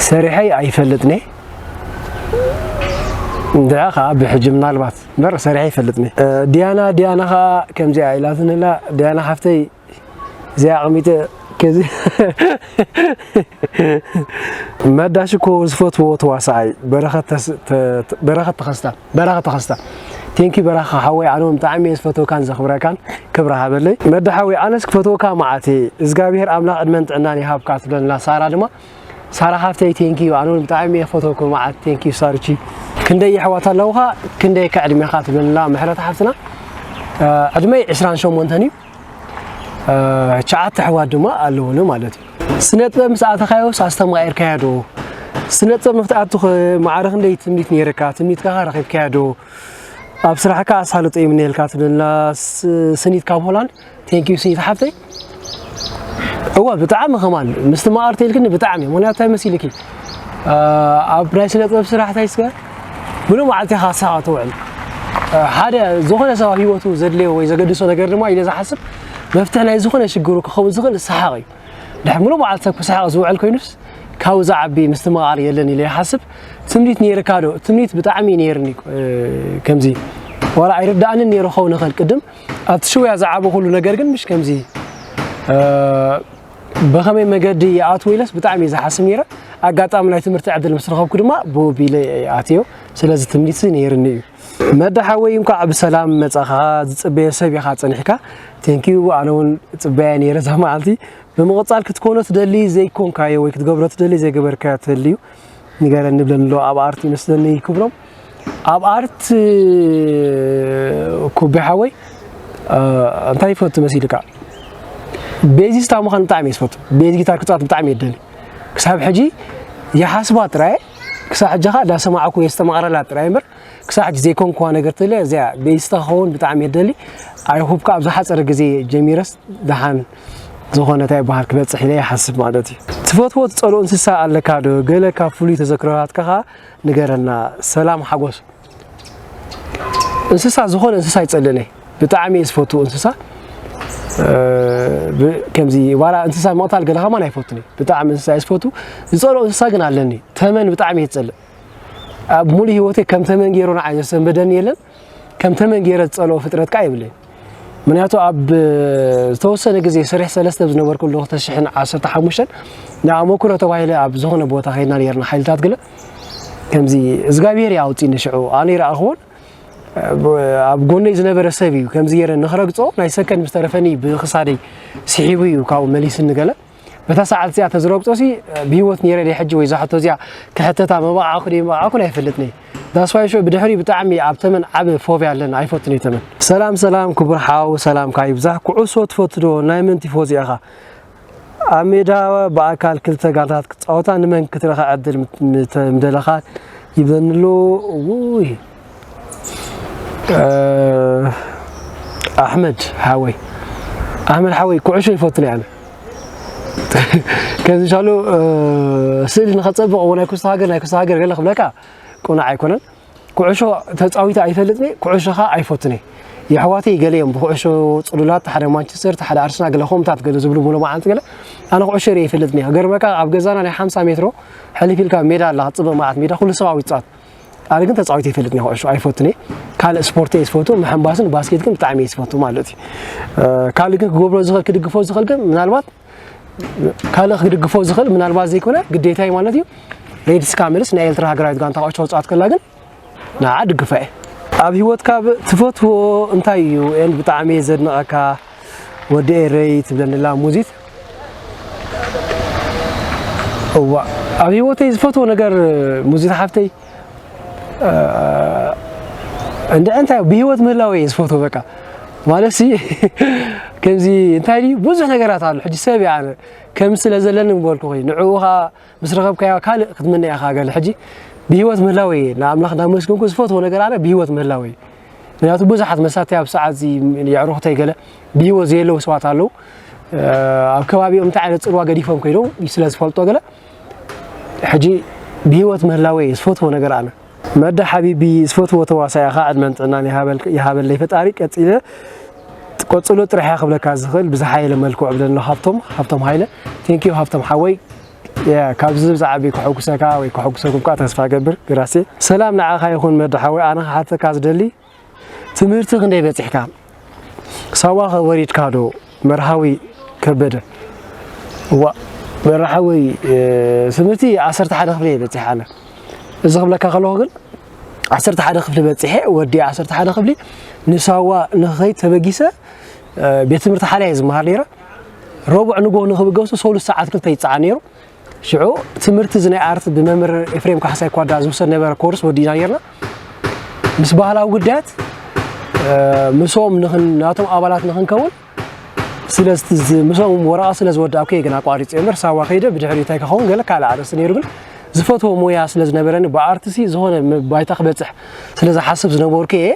Speaker 1: ሰሪሐይ ኣይፈልጥኒ እንድዐ ከዓ ብሕጂ ምናልባት እምበር ሰሪሐ ይፈልጥኒ ዲያና ዲያና ከዓ ከምዚኣ ኢላትንላ ዲያና ሓፍተይ እዚኣ ኣቕሚጠ ከዚ መዳሽ እኮ ዝፈትዎ ተዋሳኣይ በረኸት ተኸስታ በረኸ ተኸስታ ቴንኪ በረኻ ሓወይ ኣነ እውን ብጣዕሚ እየ ዝፈትወካን ዘኽብረካን ክብሪ ሃበለይ መዳ ሓወይ ኣነስ ክፈትወካ መዓት እየ እግዚኣብሄር ኣምላኽ ዕድመን ጥዕናን ይሃብካ ትብለና ሳራ ድማ ሳራ ሓፍተይ ቴንኪ እዩ ኣነ እውን ብጣዕሚ እየ ክፈትወኩ መዓት ቴንኪ እዩ ሳርቺ ክንደይ የሕዋት ኣለውኻ ክንደይ ከዕድሜኻ ትብለና ምሕረት ሓፍትና ዕድመይ 28 እዩ ትሽዓተ ኣሕዋት ድማ ኣለውኒ ማለት እዩ። ስነ ጥበብ ምስ ኣተኻዮስ ኣስተማቂርካዮ ዶ? ስነ ጥበብ ንክትኣቱ ማዕረ ክንደይ ትምኒት ነይርካ? ትምኒትካ ከ ረኺብካዮ ዶ? ኣብ ስራሕካ ኣሳልጦ ይምነየልካ ትብለና ስኒት ካብ ሆላንድ። ቴንክ ዩ ስኒት ሓፍተይ። እወ ብጣዕሚ ከማን ምስ ትማኣርቲ ኢልክኒ ብጣዕሚ ምክንያቱ እንታይ መሲልኪ ኣብ ናይ ስነ ጥበብ ስራሕ እንታይ ምሉእ መዓልቲ ኢኻ ስራሓ ትውዕል ሓደ ዝኾነ ሰብ ኣብ ሂወቱ ዘድልዮ ወይ ዘገድሶ ነገር ድማ ኢለ ዝሓስብ መፍትሒ ናይ ዝኾነ ሽግሩ ክኸውን ዝኽእል ሰሓቕ እዩ ድሕሪ ምሉእ መዓልቲ ሰብ ክሰሓቕ ዝውዕል ኮይኑስ ካብኡ ዝዓቢ ምስትምቓር የለን ኢለ ይሓስብ ትምኒት ነይርካ ዶ ትምኒት ብጣዕሚ ነይርኒ ከምዚ ዋላ ኣይርዳእንን ነይሩ ኸውን ይኽእል ቅድም ኣብቲ ሽውያ ዝዓበኹሉ ነገር ግን ምሽ ከምዚ ብኸመይ መገዲ ይኣትው ኢለስ ብጣዕሚ እየ ዝሓስብ ነይረ ኣጋጣሚ ናይ ትምህርቲ ዕድል ምስ ረኸብኩ ድማ ብወቢለ እየ ኣትዮ ስለዚ ትምኒት ነይርኒ እዩ መዳ ሓወይ እንኳዕ ብሰላም መፃኻ ዝፅበየ ሰብ ኢኻ ፀኒሕካ ቴንኪዩ ኣነ እውን ፅበያ ነይረ እዛ መዓልቲ ብምቕፃል ክትኮኖ ትደሊ ዘይኮንካዮ ወይ ክትገብሮ ትደሊ ዘይገበርካዮ ትህልዩ ንገረኒ ብለንሎ ኣብ ኣርቲ መስለኒ ክብሎም ኣብ ኣርት ኩቤ ሓወይ እንታይ ይፈቱ መሲልካ ቤዚስታ ምዃን ብጣዕሚ እየ ዝፈቱ ቤዝ ጊታር ክፃወት ብጣዕሚ እየ ደሊ ክሳብ ሕጂ ይሓስባ ጥራየ ክሳብ ሕጂ ከዓ እንዳሰማዕኩ የስተማቕረላ ጥራይ እምበር ክሳብ ሕጂ ዘይኮንኩዋ ነገር ተለ እዚያ ቤዚስታ ክኸውን ብጣዕሚ እየ ደሊ ኣይሆፕ ከዓ ኣብ ዝሓፀረ ግዜ ጀሚረስ ደሓን ዝኾነ እንታይ ይበሃል ክበፅሕ ኢለ ይሓስብ ማለት እዩ ትፈትዎ ትፀልኦ እንስሳ ኣለካ ዶ ገለ ካብ ፍሉይ ተዘክሮታትካ ከዓ ንገረና ሰላም ሓጎስ እንስሳ ዝኾነ እንስሳ ይጸልእን እየ ብጣዕሚ እየ ዝፈቱ እንስሳ ከምዚ ዋላ እንስሳ ምቕታል ገለ ከማን ኣይፈቱን እዩ ብጣዕሚ እንስሳ እየ ዝፈቱ ዝፀልኦ እንስሳ ግን ኣለኒ ተመን ብጣዕሚ እየ ዝፀልእ ኣብ ሙሉእ ሂወተይ ከም ተመን ገይሩ ንዓይ ዘሰንበደኒ የለን ከም ተመን ገይረ ዝጸልኦ ፍጥረት ከኣ የብለይን። ምክንያቱ ኣብ ዝተወሰነ ግዜ ስሪሕ ሰለስተ ኣብ ዝነበርኩሉ ክልተ ሽሕን ዓሰርተ ሓሙሽተን ንኣመኩሮ ተባሂለ ኣብ ዝኾነ ቦታ ከይድና ነርና ሓይልታት ግለ ከምዚ እዝጋብሄር እዩ ኣውጺኒ ሽዑ ኣነ ይረኣኽዎን ኣብ ጎነይ ዝነበረ ሰብ እዩ ከምዚ ገይረ ንክረግጾ ናይ ሰከንድ ምስ ተረፈኒ ብክሳደይ ስሒቡ እዩ ካብኡ መሊስኒ ገለ በታ ሰዓት እዚኣ ተዝረግጾ ሲ ብሂወት ነይረ ድየ ሕጂ ወይ እዛ ሕቶ እዚኣ ክሕተታ መባዓኹ ድየ መባዓኹን ኣይፈልጥን ዳስዋይ ሾ ብድሕሪ ብጣዕሚ ኣብ ተመን ዓቢ ፎብያ ኣለና ኣይፈቱን ተመን ሰላም ሰላም ክቡር ሓው ሰላምካ ይብዛሕ ኩዕሶ ትፈቱ ዶ ናይ መን ቲፎዚ ኢኻ ኣብ ሜዳ ብኣካል ክልተ ጋንታት ክጻወታ ንመን ክትረኸ ዕድል ምደለኻ ይብለኒ ኣሎ ውይ ኣሕመድ ሓወይ ኣሕመድ ሓወይ ኩዕሾ ይፈቱ ነይ ኣነ ከምዚ ሻሉ ስእሊ ንኸፀብቕ እዎ ናይ ኩስቶ ሃገር ናይ ኩስቶ ሃገር ገለ ክብለካ ቁኑዕ ኣይኮነን ኩዕሾ ተፃዊታ ኣይፈልጥ ነይ ኩዕሾ ከዓ ኣይፈቱ ነይ የሕዋተይ ገለ እዮም ብኩዕሾ ፅሉላት ሓደ ማንቸስተር ሓደ ኣርስና ገለ ከምታት ገለ ዝብሉ ሙሉ መዓልቲ ገለ ኣነ ኩዕሾ ርየ ይፈልጥ ነይ ገርመካ ኣብ ገዛና ናይ ሓምሳ ሜትሮ ሕልፍ ኢልካ ሜዳ ኣላ ክትፅበ መዓት ሜዳ ኩሉ ሰብኣዊ ይፃወት ኣነ ግን ተፃዊት ይፈልጥ ኒ ኩዕሾ ኣይፈቱን እየ ካልእ ስፖርት እየ ዝፈቱ ምሕንባስን ባስኬት ግን ብጣዕሚ እየ ዝፈቱ ማለት እዩ ካልእ ግን ክገብሮ ዝኽእል ክድግፎ ዝኽእል ግን ምናልባት ካልእ ክድግፎ ዝኽእል ምናልባት ዘይኮነ ግዴታ እዩ ማለት እዩ ሬድ ስካምልስ ናይ ኤርትራ ሃገራዊት ጋንታ ኩዕሾ ውፅኣት ከላ ግን ንዓ ድግፋ እየ ኣብ ሂወትካ ትፈትዎ እንታይ እዩ ኤንድ ብጣዕሚ እየ ዘድንቐካ ወዲ ኤረይ ትብለኒ ኣላ ሙዚት እዋእ ኣብ ህይወተይ ዝፈትዎ ነገር ሙዚት ሓፍተይ እንድዒ እንታይ ብህይወት ምህላወ እየ ዝፈትዎ በቃ ማለት ሲ ከምዚ እንታይ ድዩ ብዙሕ ነገራት ኣሎ ሕጂ ሰብ እየ ኣነ ከም ስለ ዘለኒ ምበልኩኺ ንዕኡ ኸኣ ምስ ረኸብካያ ካልእ ክትምነያ ኢኻ ገለ ሕጂ ብሂወት ምህላወይ እየ ንኣምላኽ እንዳመስገንኩ ዝፈትዎ ነገር ኣነ ብሂወት ምህላወይ እዩ ምክንያቱ ብዙሓት መሳተይ ኣብ ሰዓት እዚ የዕሩኽተይ ገለ ብሂወት ዘየለዉ ሰባት ኣለዉ ኣብ ከባቢኦም እንታይ ዓይነት ፅልዋ ገዲፎም ከይዶም ስለ ዝፈልጦ ገለ ሕጂ ብሂወት ምህላወይ እዩ ዝፈትዎ ነገር ኣነ መዳ ሓቢቢ ዝፈትዎ ተዋሳኢ ኢኻ ዕድመን ጥዕናን ይሃበለይ ፈጣሪ ቀጺለ ቀጽሎ ጥራሕ እያ ክብለካ ዝኽእል ብዝሓየለ መልክዑ ዕብለሎ ሃብቶም ሃብቶም ሃይለ ቴንኪዩ ሃብቶም ሓወይ ካብዚ ብዛዕቢ ከሐጉሰካ ወይ ከሐጉሰኩም ከዓ ተስፋ ገብር ግራሴ ሰላም ንዓኻ ይኹን መድሓወይ ኣነ ክሓተካ ዝደሊ ትምህርቲ ክንደይ በጺሕካ? ሳዋ ከ ወሪድካ ዶ? መርሃዊ ከበደ። እዋእ መርሃዊ ትምህርቲ ዓሰርተ ሓደ ክፍሊ እየ በጺሐ ኣነ። እዚ ክብለካ ከለኹ ግን ዓሰርተ ሓደ ክፍሊ በጺሐ ወዲ ዓሰርተ ሓደ ክፍሊ ንሳዋ ንክኸይድ ተበጊሰ ቤት ትምህርቲ ሓልያ እየ ዝመሃር ነይረ። ረቡዕ ንግሆ ንክብገሱ ሰሉስ ሰዓት ክልተ ይጸዓን ነይሩ። ሽዑ ትምህርቲ እዚ ናይ ኣርት ብመምህር ኤፍሬም ካሕሳይ ኳዳ ዝውሰድ ነበረ ኮርስ ወዲእና ኔርና። ምስ ባህላዊ ጉዳያት ምስኦም ናቶም ኣባላት ንኽንከውን ምስኦም ወረቓ ስለ ዝወዳእኩ እየ ግን ኣቋሪፀ እምበር ሳዋ ከይደ ብድሕሪ እንታይ ከኸውን ገለ ካልእ ኣርእስቲ ነይሩ ግን ዝፈትዎ ሞያ ስለ ዝነበረኒ ብኣርትሲ ዝኾነ ባይታ ክበፅሕ ስለ ዝሓስብ ዝነበርኩ እየ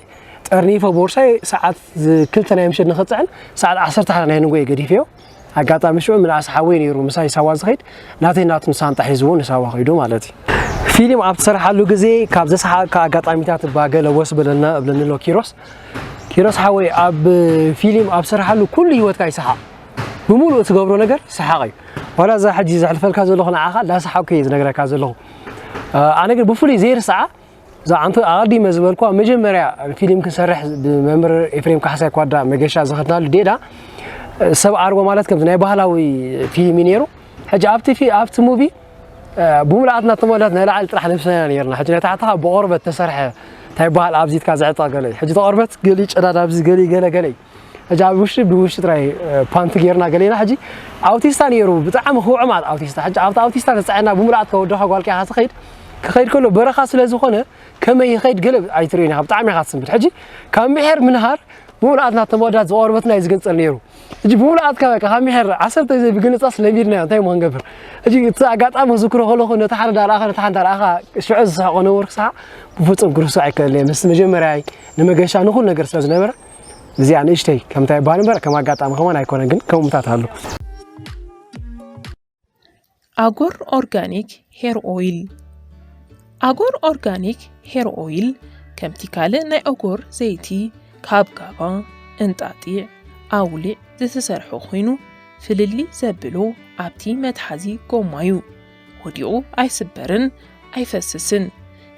Speaker 1: ጠርኒፈ ቦርሳይ ሰዓት ክልተ ናይ ምሸት ንኽፅዕን ሰዓት ዓሰርተ ሓደ ናይ ንጎ እየ ገዲፈዮ ኣጋጣሚ ሽዑ ምንኣስ ሓወይ ነይሩ ምሳይ ሳዋ ዝኸይድ ናተይ ናቱን ሳንጣ ሒዝዎ ንሳዋ ከይዱ ማለት እዩ። ፊልም ኣብ ትሰርሓሉ ግዜ ካብ ዘስሓቕካ ኣጋጣሚታት እባ ገለ ወስ በለልና እብለኒ ኣሎ ኪሮስ። ኪሮስ ሓወይ ኣብ ፊልም ኣብ ስርሓሉ ኩሉ ሂወትካ ይስሓቕ ብምሉእ ትገብሮ ነገር ሰሓቕ እዩ ዋላ እዛ ሕጂ ዘሕልፈልካ ዘለኹ ንዓኻ እንዳሰሓቕኩ እየ ዝነግረካ ዘለኹ ኣነ ግን ብፍሉይ ዘይርስዓ እዛ ዓንፈ ኣቐዲመ ዝበልኳ መጀመርያ ፊልም ክንሰርሕ ብመምህር ኤፍሬም ካሕሳይ ኳዳ መገሻ ዝኸድናሉ ዴዳ ሰብ ኣርቦ ማለት ከምዚ ናይ ባህላዊ ፊልም እዩ ነይሩ ሕጂ ኣብቲ ኣብቲ ሙቪ ብምልኣትና ተመላት ናይ ላዕሊ ጥራሕ ለብስናና ነርና ሕጂ ናይ ታሕቲ ብቆርበት ተሰርሐ እንታይ በሃል ኣብዚ ኢትካ ዝዕጠቕ ገለ እዩ ሕጂ ተቆርበት ገሊ ጨዳድ ኣብዚ ገሊ ገለ ገለ እዩ ሕጂ ኣብ ውሽጢ ብውሽጢ ጥራይ ፓንቲ ጌርና ገሌና ሕጂ ኣውቲስታ ነይሩ ብጣዕሚ ክውዕም ኣል ኣውቲስታ ሕጂ ኣብቲ ኣውቲስታ ተጻዒና ብምልኣት ከወደኻ ጓል ቂኻ ትኸይድ ክኸይድ ከሎ በረኻ ስለ ዝኾነ ከመይ ይኸይድ ገለ ኣይትርእን ኢኻ ብጣዕሚ ኢኻ ትስምብድ ሕጂ ካብ ምሕር ምንሃር ብምልኣት ናቶም ወዳት ዝቆርበትና እዩ ዝግንጸል ነይሩ ሕጂ ብምልኣት ካብ ካብ ምሕር ዓሰርተ ግዜ ብግንጻስ ለሚድናዮ እንታይ እሞ ክንገብር ሕጂ እቲ ኣጋጣሚ ክዝክሮ ከለኹ ነቲ ሓደ ዳርኣኻ ነቲ ሓንቲ ዳርኣኻ ሽዑ ዝስሕቆ ነበርኩ ሰሓ ብፍጹም ክርስዕ ኣይከለየ ምስ መጀመርያይ ንመገሻ ንኹሉ ነገር ስለ ዝነበረ እዚኣ ንእሽተይ ከምታ ይበሃል እምበር ከም ኣጋጣሚ ከማን ኣይኮነን፣ ግን ከምኡታት ኣሉ። ኣጎር
Speaker 5: ኦርጋኒክ ሄር ኦይል ኣጎር ኦርጋኒክ ሄር ኦይል ከምቲ ካልእ ናይ ኦጎር ዘይቲ ካብ ጋባ፣ እንጣጢዕ፣ ኣውሊዕ ዝተሰርሐ ኮይኑ ፍልልይ ዘብሎ ኣብቲ መትሓዚ ጎማ እዩ። ወዲቑ ኣይስበርን ኣይፈስስን።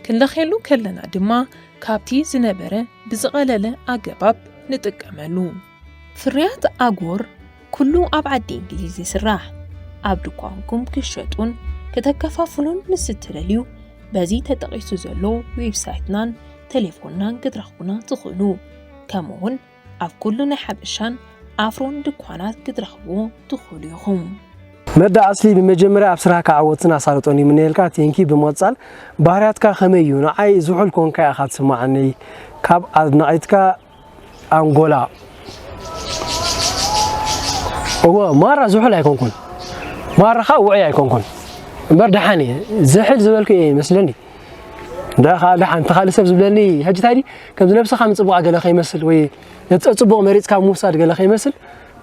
Speaker 5: ክንለኽየሉ ከለና ድማ ካብቲ ዝነበረ ብዝቐለለ ኣገባብ ንጥቀመሉ። ፍርያት ኣጎር ኩሉ ኣብ ዓዲ እንግሊዝ ይስራሕ። ኣብ ድኳንኩም ክትሸጡን ክተከፋፍሉን ምስ እትደልዩ በዚ ተጠቒሱ ዘሎ ዌብሳይትናን ተሌፎንናን ክትረኽቡና ትኽእሉ። ከምኡ'ውን ኣብ ኩሉ ናይ ሓበሻን ኣፍሮን ድኳናት ክትረኽቡ ትኽእሉ ኢኹም። መዳ
Speaker 1: ኣስሊ ብመጀመርያ ኣብ ስራህካ ዓወትን ኣሳልጦን ይምነየልካ ቴንኪ ብምቕጻል ባህርያትካ ከመይ እዩ ንዓይ ዝሑል ኮንካ ኢኻ ትስምዓኒ ካብ ኣድናቒትካ ኣንጎላ እወ ማራ ዝሑል ኣይኮንኩን ማራ ከዓ ውዑይ ኣይኮንኩን እምበር ደሓን እየ ዝሕል ዝበልኩ እየ ይመስለኒ እንዳ ከኣ ደሓን እቲ ካልእ ሰብ ዝብለኒ ሕጂ እንታይ ድዩ ከምዚ ነብስኻ ምጽቡቓ ገለ ከይመስል ወይ ነቲ ጸጽቡቕ መሪጽካ ምውሳድ ገለ ከይመስል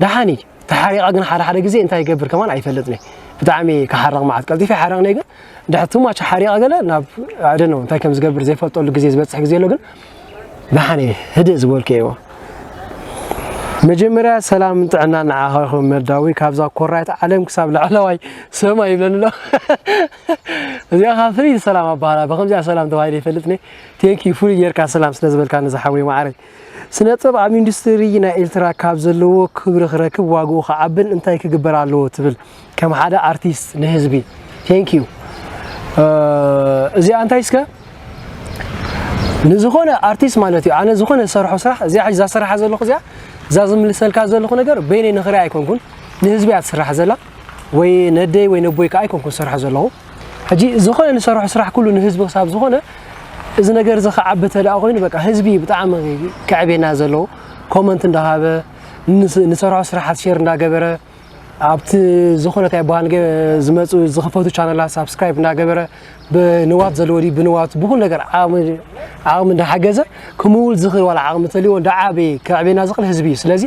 Speaker 1: ደሓን እዩ ተሓሪቓ ግን ሓደ ሓደ ግዜ እንታይ ይገብር ከማን ኣይፈልጥን ብጣዕሚ ክሓርቕ መዓት ቀልጢፈ ይሓርቕኒ ግን ድሕሪ ትማች ሓሪቐ ገለ ናብ ኣደ ነው እንታይ ከም ዝገብር ዘይፈልጠሉ ግዜ ዝበጽሕ ግዜ ኣሎ ግን ደሓን እየ ህድእ ዝበልኩ እየዎ መጀመርያ ሰላም ጥዕና ንዓኻ ይኹን መዳዊ ካብዛ ኮራይት ዓለም ክሳብ ላዕለዋይ ሰማይ ይብለኒ ኣሎ እዚኣ ካብ ፍልይ ሰላም ኣባህላ ብከምዚኣ ሰላም ተባሂለ ይፈልጥ ነ ቴንኪ ፍሉይ ጌርካ ሰላም ስለ ዝበልካኒ ዝሓወይ ማዓረይ ስነ ጥበብ ኣብ ኢንዱስትሪ ናይ ኤርትራ ካብ ዘለዎ ክብሪ ክረክብ ዋግኡ ክዓብን እንታይ ክግበር ኣለዎ ትብል ከም ሓደ ኣርቲስት ንህዝቢ ቴንክ ዩ እዚኣ እንታይ እስከ ንዝኾነ ኣርቲስት ማለት እዩ ኣነ ዝኾነ ዝሰርሖ ስራሕ እዚኣ ሕዚ ዛሰራሓ ዘለኹ እዚኣ እዛ ዝምልሰልካ ዘለኹ ነገር በይነይ ንኽሪኣ ኣይኮንኩን ንህዝቢ እያ ትስራሕ ዘላ ወይ ነደይ ወይ ነቦይ ከዓ ኣይኮንኩን ዝሰርሖ ዘለኹ ሕጂ ዝኾነ ንሰርሖ ስራሕ ኩሉ ንህዝቢ ክሳብ ዝኾነ እዚ ነገር እዚ ክዓቢ ተደኣ ኮይኑ በቃ ህዝቢ ብጣዕሚ ክዕብየና ዘለዎ ኮመንት እንዳሃበ ንሰርሖ ስራሓት ሼር እንዳገበረ ኣብቲ ዝኾነ እንታይ በሃል ዝመፁ ዝኽፈቱ ቻነላት ሳብስክራይብ እንዳገበረ ብንዋት ዘለዎ ድዩ ብንዋት ብኩሉ ነገር ዓቕሚ እንዳሓገዘ ክምውል ዝኽእል ዋላ ዓቕሚ ተልዎ እንዳዓበየ ክዕብየና ዝኽእል ህዝቢ እዩ ስለዚ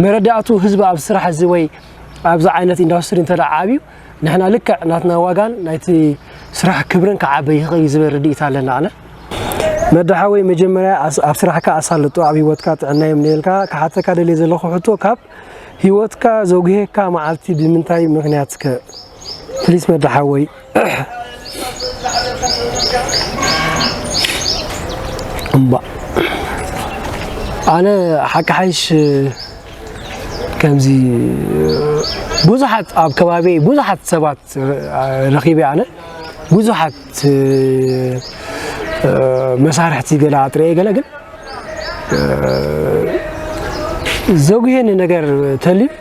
Speaker 1: መረዳእቱ ህዝቢ ኣብ ስራሕ እዚ ወይ ኣብዚ ዓይነት ኢንዳስትሪ እንተ ዓብዩ ንሕና ልክዕ ናትና ዋጋን ናይቲ ስራሕ ክብርን ክዓበ ይኽእል እዩ ዝበል ርድኢት ኣለና ኣነ። መዲ ሓወይ መጀመርያ ኣብ ስራሕካ ኣሳልጦ ኣብ ሂወትካ ጥዕና ይምነየልካ ክሓተካ ደልየ ዘለኩ ሕቶ ካብ ሂወትካ ዘጉሄካ መዓልቲ ብምንታይ ምክንያት ከ ፕሊስ መዲ ሓወይ። እምባ ኣነ ሓቂ ሓይሽ ከምዚ ብዙሓት ኣብ ከባቢ ብዙሓት ሰባት ረኺበ ኣነ ብዙሓት መሳርሕቲ ገለ ኣጥረየ ገለ ግን ዘጉሄኒ ነገር ተልዩ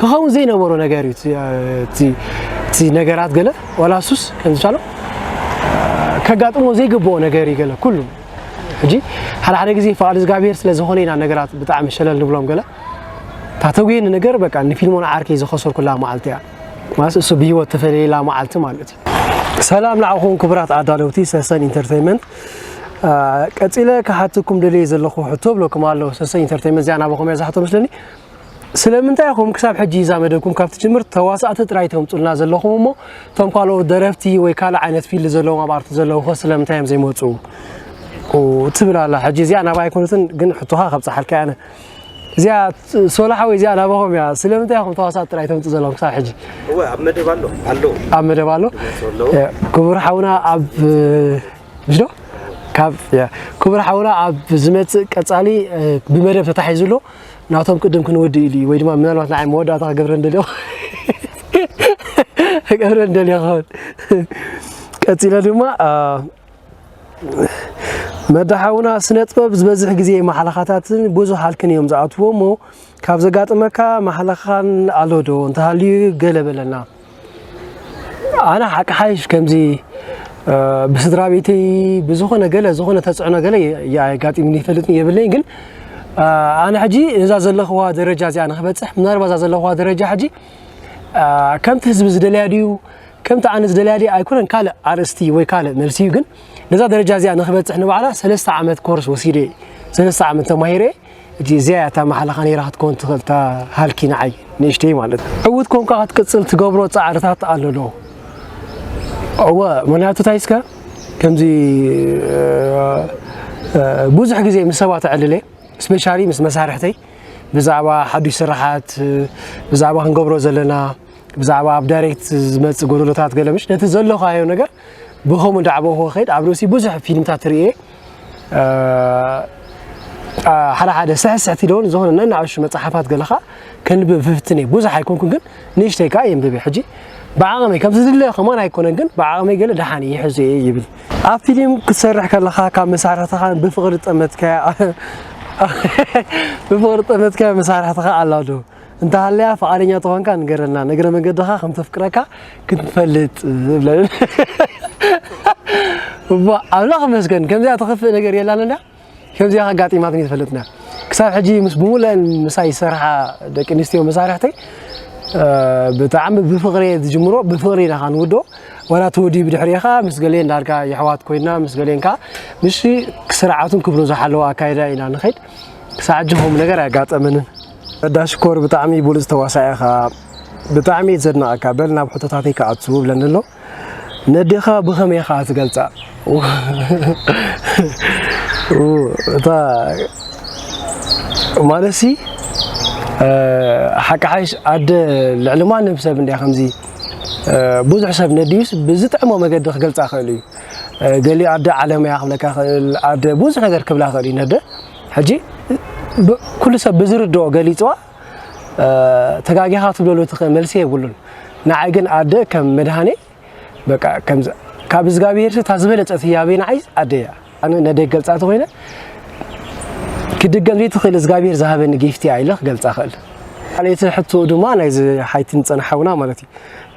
Speaker 1: ክኸውን ዘይነበሮ ነገር እዩ እቲ ነገራት ገለ ዋላ ሱስ ከምዝቻሎ ከጋጥሞ ዘይግብኦ ነገር እዩ ገለ ኩሉ ሕጂ ሓደ ሓደ ግዜ ፍቓድ እግዚኣብሄር ስለ ዝኾነ ኢና ነገራት ብጣዕሚ ሸለል ንብሎም ገለ እታ ተጉየኒ ነገር በቃ ንፊልሞን ዓርከይ ዝኸሰርኩላ መዓልቲ እያ ማለት እሱ ብሂወት ተፈለየላ መዓልቲ ማለት እዩ ሰላም ንዓኹም ክቡራት ኣዳለውቲ ሰሰን ኢንተርቴንመንት ቀፂለ ክሓትኩም ደልየ ዘለኹ ሕቶ ብለኩም ኣለኹ ሰሰን ኢንተርቴንመንት እዚኣ ናባኹም እያ ዝሓቶ መስለኒ ስለምንታይ ኢኹም ክሳብ ሕጂ እዛ መደብኩም ካብ ትጅምር ተዋሳእቲ ጥራይ ተምጹልና ዘለኹም እሞ እቶም ካልኦት ደረፍቲ ወይ ካልእ ዓይነት ፊልድ ዘለዎም ኣብ ኣርቲ ዘለዉ ኸ ስለምንታይ እዮም ዘይመጹ ትብል ኣላ ሕጂ እዚኣ ናብኣ ኣይኮነትን ግን ሕቶኻ ከብጽሓልካ ኣነ እዚኣ ሶላሓ ወይ እዚኣ ናባኹም እያ ስለምንታይ ኢኹም ተዋሳእቲ ጥራይ ተምጽ ዘለኹም ክሳብ ሕጂ
Speaker 6: እወ ኣብ መደብ ኣሎ ኣሎ
Speaker 1: ኣብ መደብ ኣሎ ክቡር ሓውና ኣብ ምሽ ካብ ክቡር ሓውና ኣብ ዝመጽእ ቀጻሊ ብመደብ ተታሒዙ ኣሎ ናቶም ቅድም ክንወድእ ኢሉ እዩ ወይ ድማ ምናልባት ንዓይ መወዳእታ ክገብረ እንደልዮ ክገብረ እንደልዮ ክኸውን ቀፂለ ድማ መዳሓውና ስነ ጥበብ ዝበዝሕ ግዜ ማሕለኻታትን ብዙሕ ሃልክን እዮም ዝኣትዎ እሞ ካብ ዘጋጥመካ ማሕለኻን ኣሎ ዶ እንተሃልዩ ገለ በለና ኣነ ሓቂ ሓይሽ ከምዚ ብስድራ ቤተይ ብዝኾነ ገለ ዝኾነ ተፅዕኖ ገለ ኣጋጢሙኒ ይፈልጥን የብለይ ግን ኣነ ሕጂ እዛ ዘለኽዋ ደረጃ እዚኣ ንክበፅሕ ምናልባ እዛ ዘለኽዋ ደረጃ ሕጂ ከምቲ ህዝቢ ዝደለያ ድዩ ከምቲ ኣነ ዝደለያ ድዩ ኣይኮነን ካልእ ኣርእስቲ ወይ ካልእ መልሲ እዩ ግን ነዛ ደረጃ እዚኣ ንክበፅሕ ንባዕላ ሰለስተ ዓመት ኮርስ ወሲደ ሰለስተ ዓመት ተማሂረ እቲ እዚኣ እያ እታ ማሕላኻ ነይራ ክትከውን ትኽእል እታ ሃልኪ ንዓይ ንእሽተይ ማለት እዩ ዕውት ኮንካ ክትቅፅል ትገብሮ ፃዕርታት ኣሎ ዶ እወ ምክንያቱ እንታይ እስከ ከምዚ ብዙሕ ግዜ ምስ ሰባት እዕልል እየ ስፔሻሊ ምስ መሳርሕተይ ብዛዕባ ሓዱሽ ስራሓት ብዛዕባ ክንገብሮ ዘለና ብዛዕባ ኣብ ዳይሬክት ዝመፅእ ጎደሎታት ገለ ምሽ ነቲ ዘለኻዮ ነገር ብከምኡ እንዳዓበኹ ክኸይድ ኣብ ርእሲ ብዙሕ ፊልምታት ርእየ ሓደ ሓደ ስሕስሕቲ ደውን ዝኾነ ነናእሹ መፅሓፋት ገለኻ ከንብብ ፍፍትን እየ ብዙሕ ኣይኮንኩን ግን ንእሽተይ ከዓ የንብብ እየ ሕጂ ብዓቕመይ ከም ዝድለ ከማን ኣይኮነን ግን ብዓቕመይ ገለ ደሓን እየ ሕዚ እየ ይብል ኣብ ፊልም ክትሰርሕ ከለኻ ካብ መሳርሕትኻ ብፍቕሪ ጠመትካያ ብፍቕሪ ጠመትካያ መሳርሕትኻ ኣላ ዶ እንተሃልያ ፍቓደኛ ተኾንካ ንገረልና ንእግረ መንገድኻ ከም ተፍቅረካ ክንፈልጥ ብለን እሞ ኣምላኽ ይመስገን ከምዚኣ ተኽፍእ ነገር የላን እንዳ ከምዚኣ ኣጋጢማትኒ ትፈልጥና ክሳብ ሕጂ ምስ ብሙሉአን ምሳይ ዝሰርሓ ደቂ ኣንስትዮ መሳርሕተይ ብጣዕሚ ብፍቕሪ ዝጅምሮ ብፍቕሪ ኢና ኸዓ ንውድኦ ዋላ እቲ ወዲ ብድሕሪኻ ምስ ገሌን ዳርጋ የሕዋት ኮይና ምስ ገሌን ከዓ ምስ ስርዓቱን ክብሩ ዝሓለወ ኣካይዳ ኢና ንኸይድ ክሳብ ሕጂ ከምኡ ነገር ኣያጋጠመንን ረዳ ሽኮር ብጣዕሚ ብሉጽ ተዋሳኢ ኢኻ ብጣዕሚ እየ ዘድንቐካ በል ናብ ሕቶታተይ ክኣቱ ብለኒ ኣሎ ነዴኻ ብኸመይ ኢኻ ትገልጻ እታ ማለትሲ ሓቂ ሓይሽ ኣደ ልዕሊ ማንም ሰብ እንዲያ ከምዚ ብዙሕ ሰብ ነድዩስ ብዝጥዕሞ መገዲ ክገልጻ ክእል እዩ ገሊ ኣደ ዓለመያ ክብለካ ክእል ኣደ ብዙሕ ነገር ክብላ ክእል እዩ ነደ ሕጂ ኩሉ ሰብ ብዝርድኦ ገሊጽዋ ተጋጊኻ ክትብለሉ ትኽእል መልሲ የብሉን። ንዓይ ግን ኣደ ከም መድሃኔ በቃ ከምዚ ካብ እዝጋብሄርሲ እታ ዝበለጸት ህያበይ ንዓይ ኣደ እያ። ኣነ ነደይ ክገልጻ ተኾይነ ክድገም ዘይትኽእል እዝጋብሄር ዝሃበኒ ጊፍቲ እያ ኢለ ክገልጻ እኽእል። ካልኣይቲ ሕቶ ድማ ናይዚ ሓይቲን ጸን ሓውና ማለት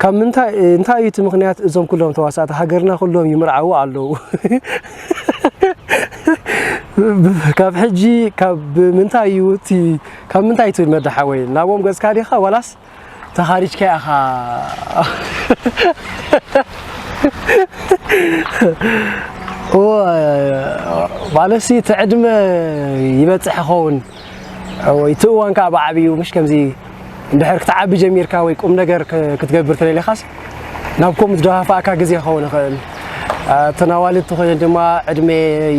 Speaker 1: ካብ ምንታይ እንታይ እዩ እቲ ምክንያት እዞም ኩሎም ተዋሳእቲ ሃገርና ኩሎም ይምርዓዉ ኣለዉ ካብ ሕጂ ካብ ምንታይ እዩ እቲ ካብ ምንታይ ትብል መዳ ሓወይ ናቦም ገጽካ ዲኻ ዋላስ ተኻሪጅካ ኢኻ ማለት እቲ ዕድመ ይበጽሕ ይኸውን እወ እቲ እዋን ከኣ ብዓቢኡ ምሽ ከምዚ እንድሕር ክትዓቢ ጀሚርካ ወይ ቁም ነገር ክትገብር ተደሊኻስ ናብ ከምኡ ዝደፋፍኣካ ግዜ ክኸውን ይኽእል እተን ኣዋልድ ተኾይነን ድማ ዕድሜ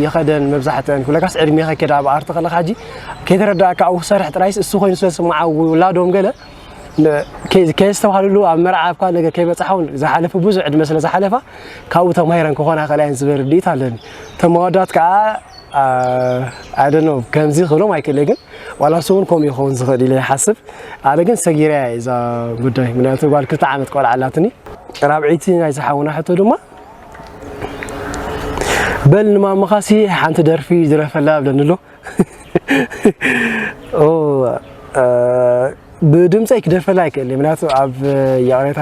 Speaker 1: ይኸደን መብዛሕትአን ኩለካስ ዕድሜ ከኬድ ኣብ ኣርቲ ከለካ ሕጂ ከይተረዳእካ ኣብኡ ክሰርሕ ጥራይስ እሱ ኮይኑ ስለ ዝስምዓ ውላዶም ገለ ከየስተባሃልሉ ኣብ መርዓ ኣብካ ነገር ከይበፅሓውን ዝሓለፈ ብዙሕ ዕድመ ስለ ዝሓለፋ ካብኡ ተማሂረን ክኾና ይኽእላ እየን ዝብል ርድኢት ኣለኒ ተመወዳት ከዓ ኣይ ዶንት ኖው ከምዚ ክብሎም ኣይክእለ ግን ዋላ እሱ እውን ከምኡ ይኸውን ዝኽእል ኢለ ይሓስብ ኣነ ግን ሰጊረያ እየ እዛ ጉዳይ ምክንያቱ ጓል ክልተ ዓመት ቆልዓ ኣላትኒ ራብዒይቲ ናይ ዝሓውና ሕቶ ድማ በል ንማምኻሲ ሓንቲ ደርፊ ድረፈላ ብለኒ ኣሎ ብድምፀይ ክደርፈላ ኣይክእል እየ ምክንያቱ ኣብ ይቕሬታ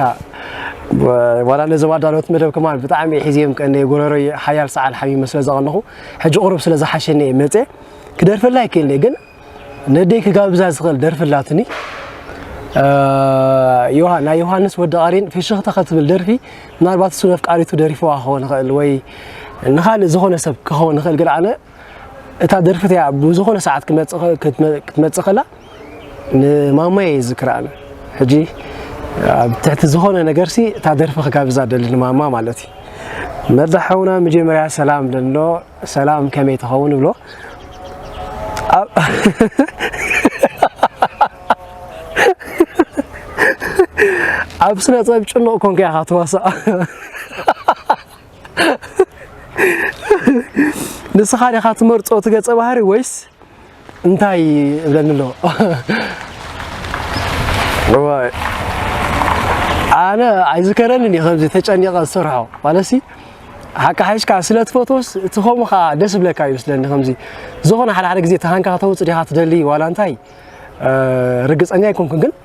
Speaker 1: ዋላ ነዚ ዋዳሎት መደብ ከማን ብጣዕሚ ሒዝዮም ቀነ ጎረሮ ሓያል ሰዓል ሓሚመ ስለ ዘቐነኹ ሕጂ ቁሩብ ስለ ዝሓሸኒ እየ መፀ ክደርፈላ ኣይክእል ግን ነደይ ክጋብዛ ዝኽእል ደርፊ ኣላትኒ ናይ ዮሃንስ ወዲ ቃሪን ፍሽኽታ ከትብል ደርፊ ምናልባት እሱ ነፍቃሪቱ ደሪፍዋ ክኸውን ይኽእል ወይ ንኻልእ ዝኾነ ሰብ ክኸውን ይኽእል ግን ኣነ እታ ደርፊ እቲኣ ኣብ ዝኾነ ሰዓት ክትመጽእ ከላ ንማማየ ይዝክራ ኣነ ሕጂ ኣብ ትሕቲ ዝኾነ ነገርሲ እታ ደርፊ ክጋብዛ ደሊ ንማማ ማለት እዩ መርዛ ሓውና መጀመርያ ሰላም ደሎ ሰላም ከመይ ትኸውን ብሎ ኣብ ስነ ጥበብ ጭኑቕ ኮንከ ኢኻ ትዋሳእ ንስኻ ዲኻ ትመርጾ እቲ ገጸ ባህሪ ወይስ እንታይ እብለኒ ኣሎ እዋይ ኣነ ኣይዝከረንን እዩ ከምዚ ተጨኒቐ ዝሰርሖ ማለሲ ሓቂ ሓይሽካ ስለ ትፈትወስ እቲ ከምኡ ከዓ ደስ ብለካ እዩ ስለኒ ከምዚ ዝኾነ ሓደ ሓደ ግዜ ተሃንካ ከተውፅእ ዲኻ ትደሊ ዋላ እንታይ ርግፀኛ ኣይኮንኩን ግን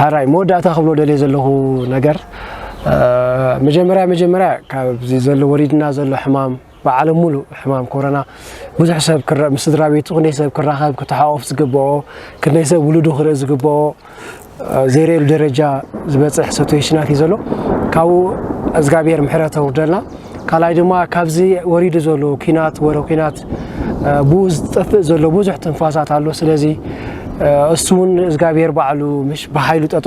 Speaker 1: ሓራይ መወዳእታ ክብሎ ደልየ ዘለኹ ነገር መጀመርያ መጀመርያ ካብዚ ዘሎ ወሪድና ዘሎ ሕማም ብዓለም ሙሉእ ሕማም ኮረና ብዙሕ ሰብ ምስ ስድራ ቤቱ ክንደይ ሰብ ክራኸብ ክተሓቆፍ ዝግብኦ ክንደይ ሰብ ውሉዱ ክርኢ ዝግብኦ ዘይርእሉ ደረጃ ዝበፅሕ ሰቱዌሽናት እዩ ዘሎ ካብኡ እግዚኣብሔር ምሕረት ኣውርደልና ካልኣይ ድማ ካብዚ ወሪዱ ዘሎ ኩናት ወረ ኩናት ብኡ ዝጠፍእ ዘሎ ብዙሕ ትንፋሳት ኣሎ ስለዚ እሱ እውን እግዚኣብሔር ባዕሉ ምሽ ብሓይሉ ጠጠ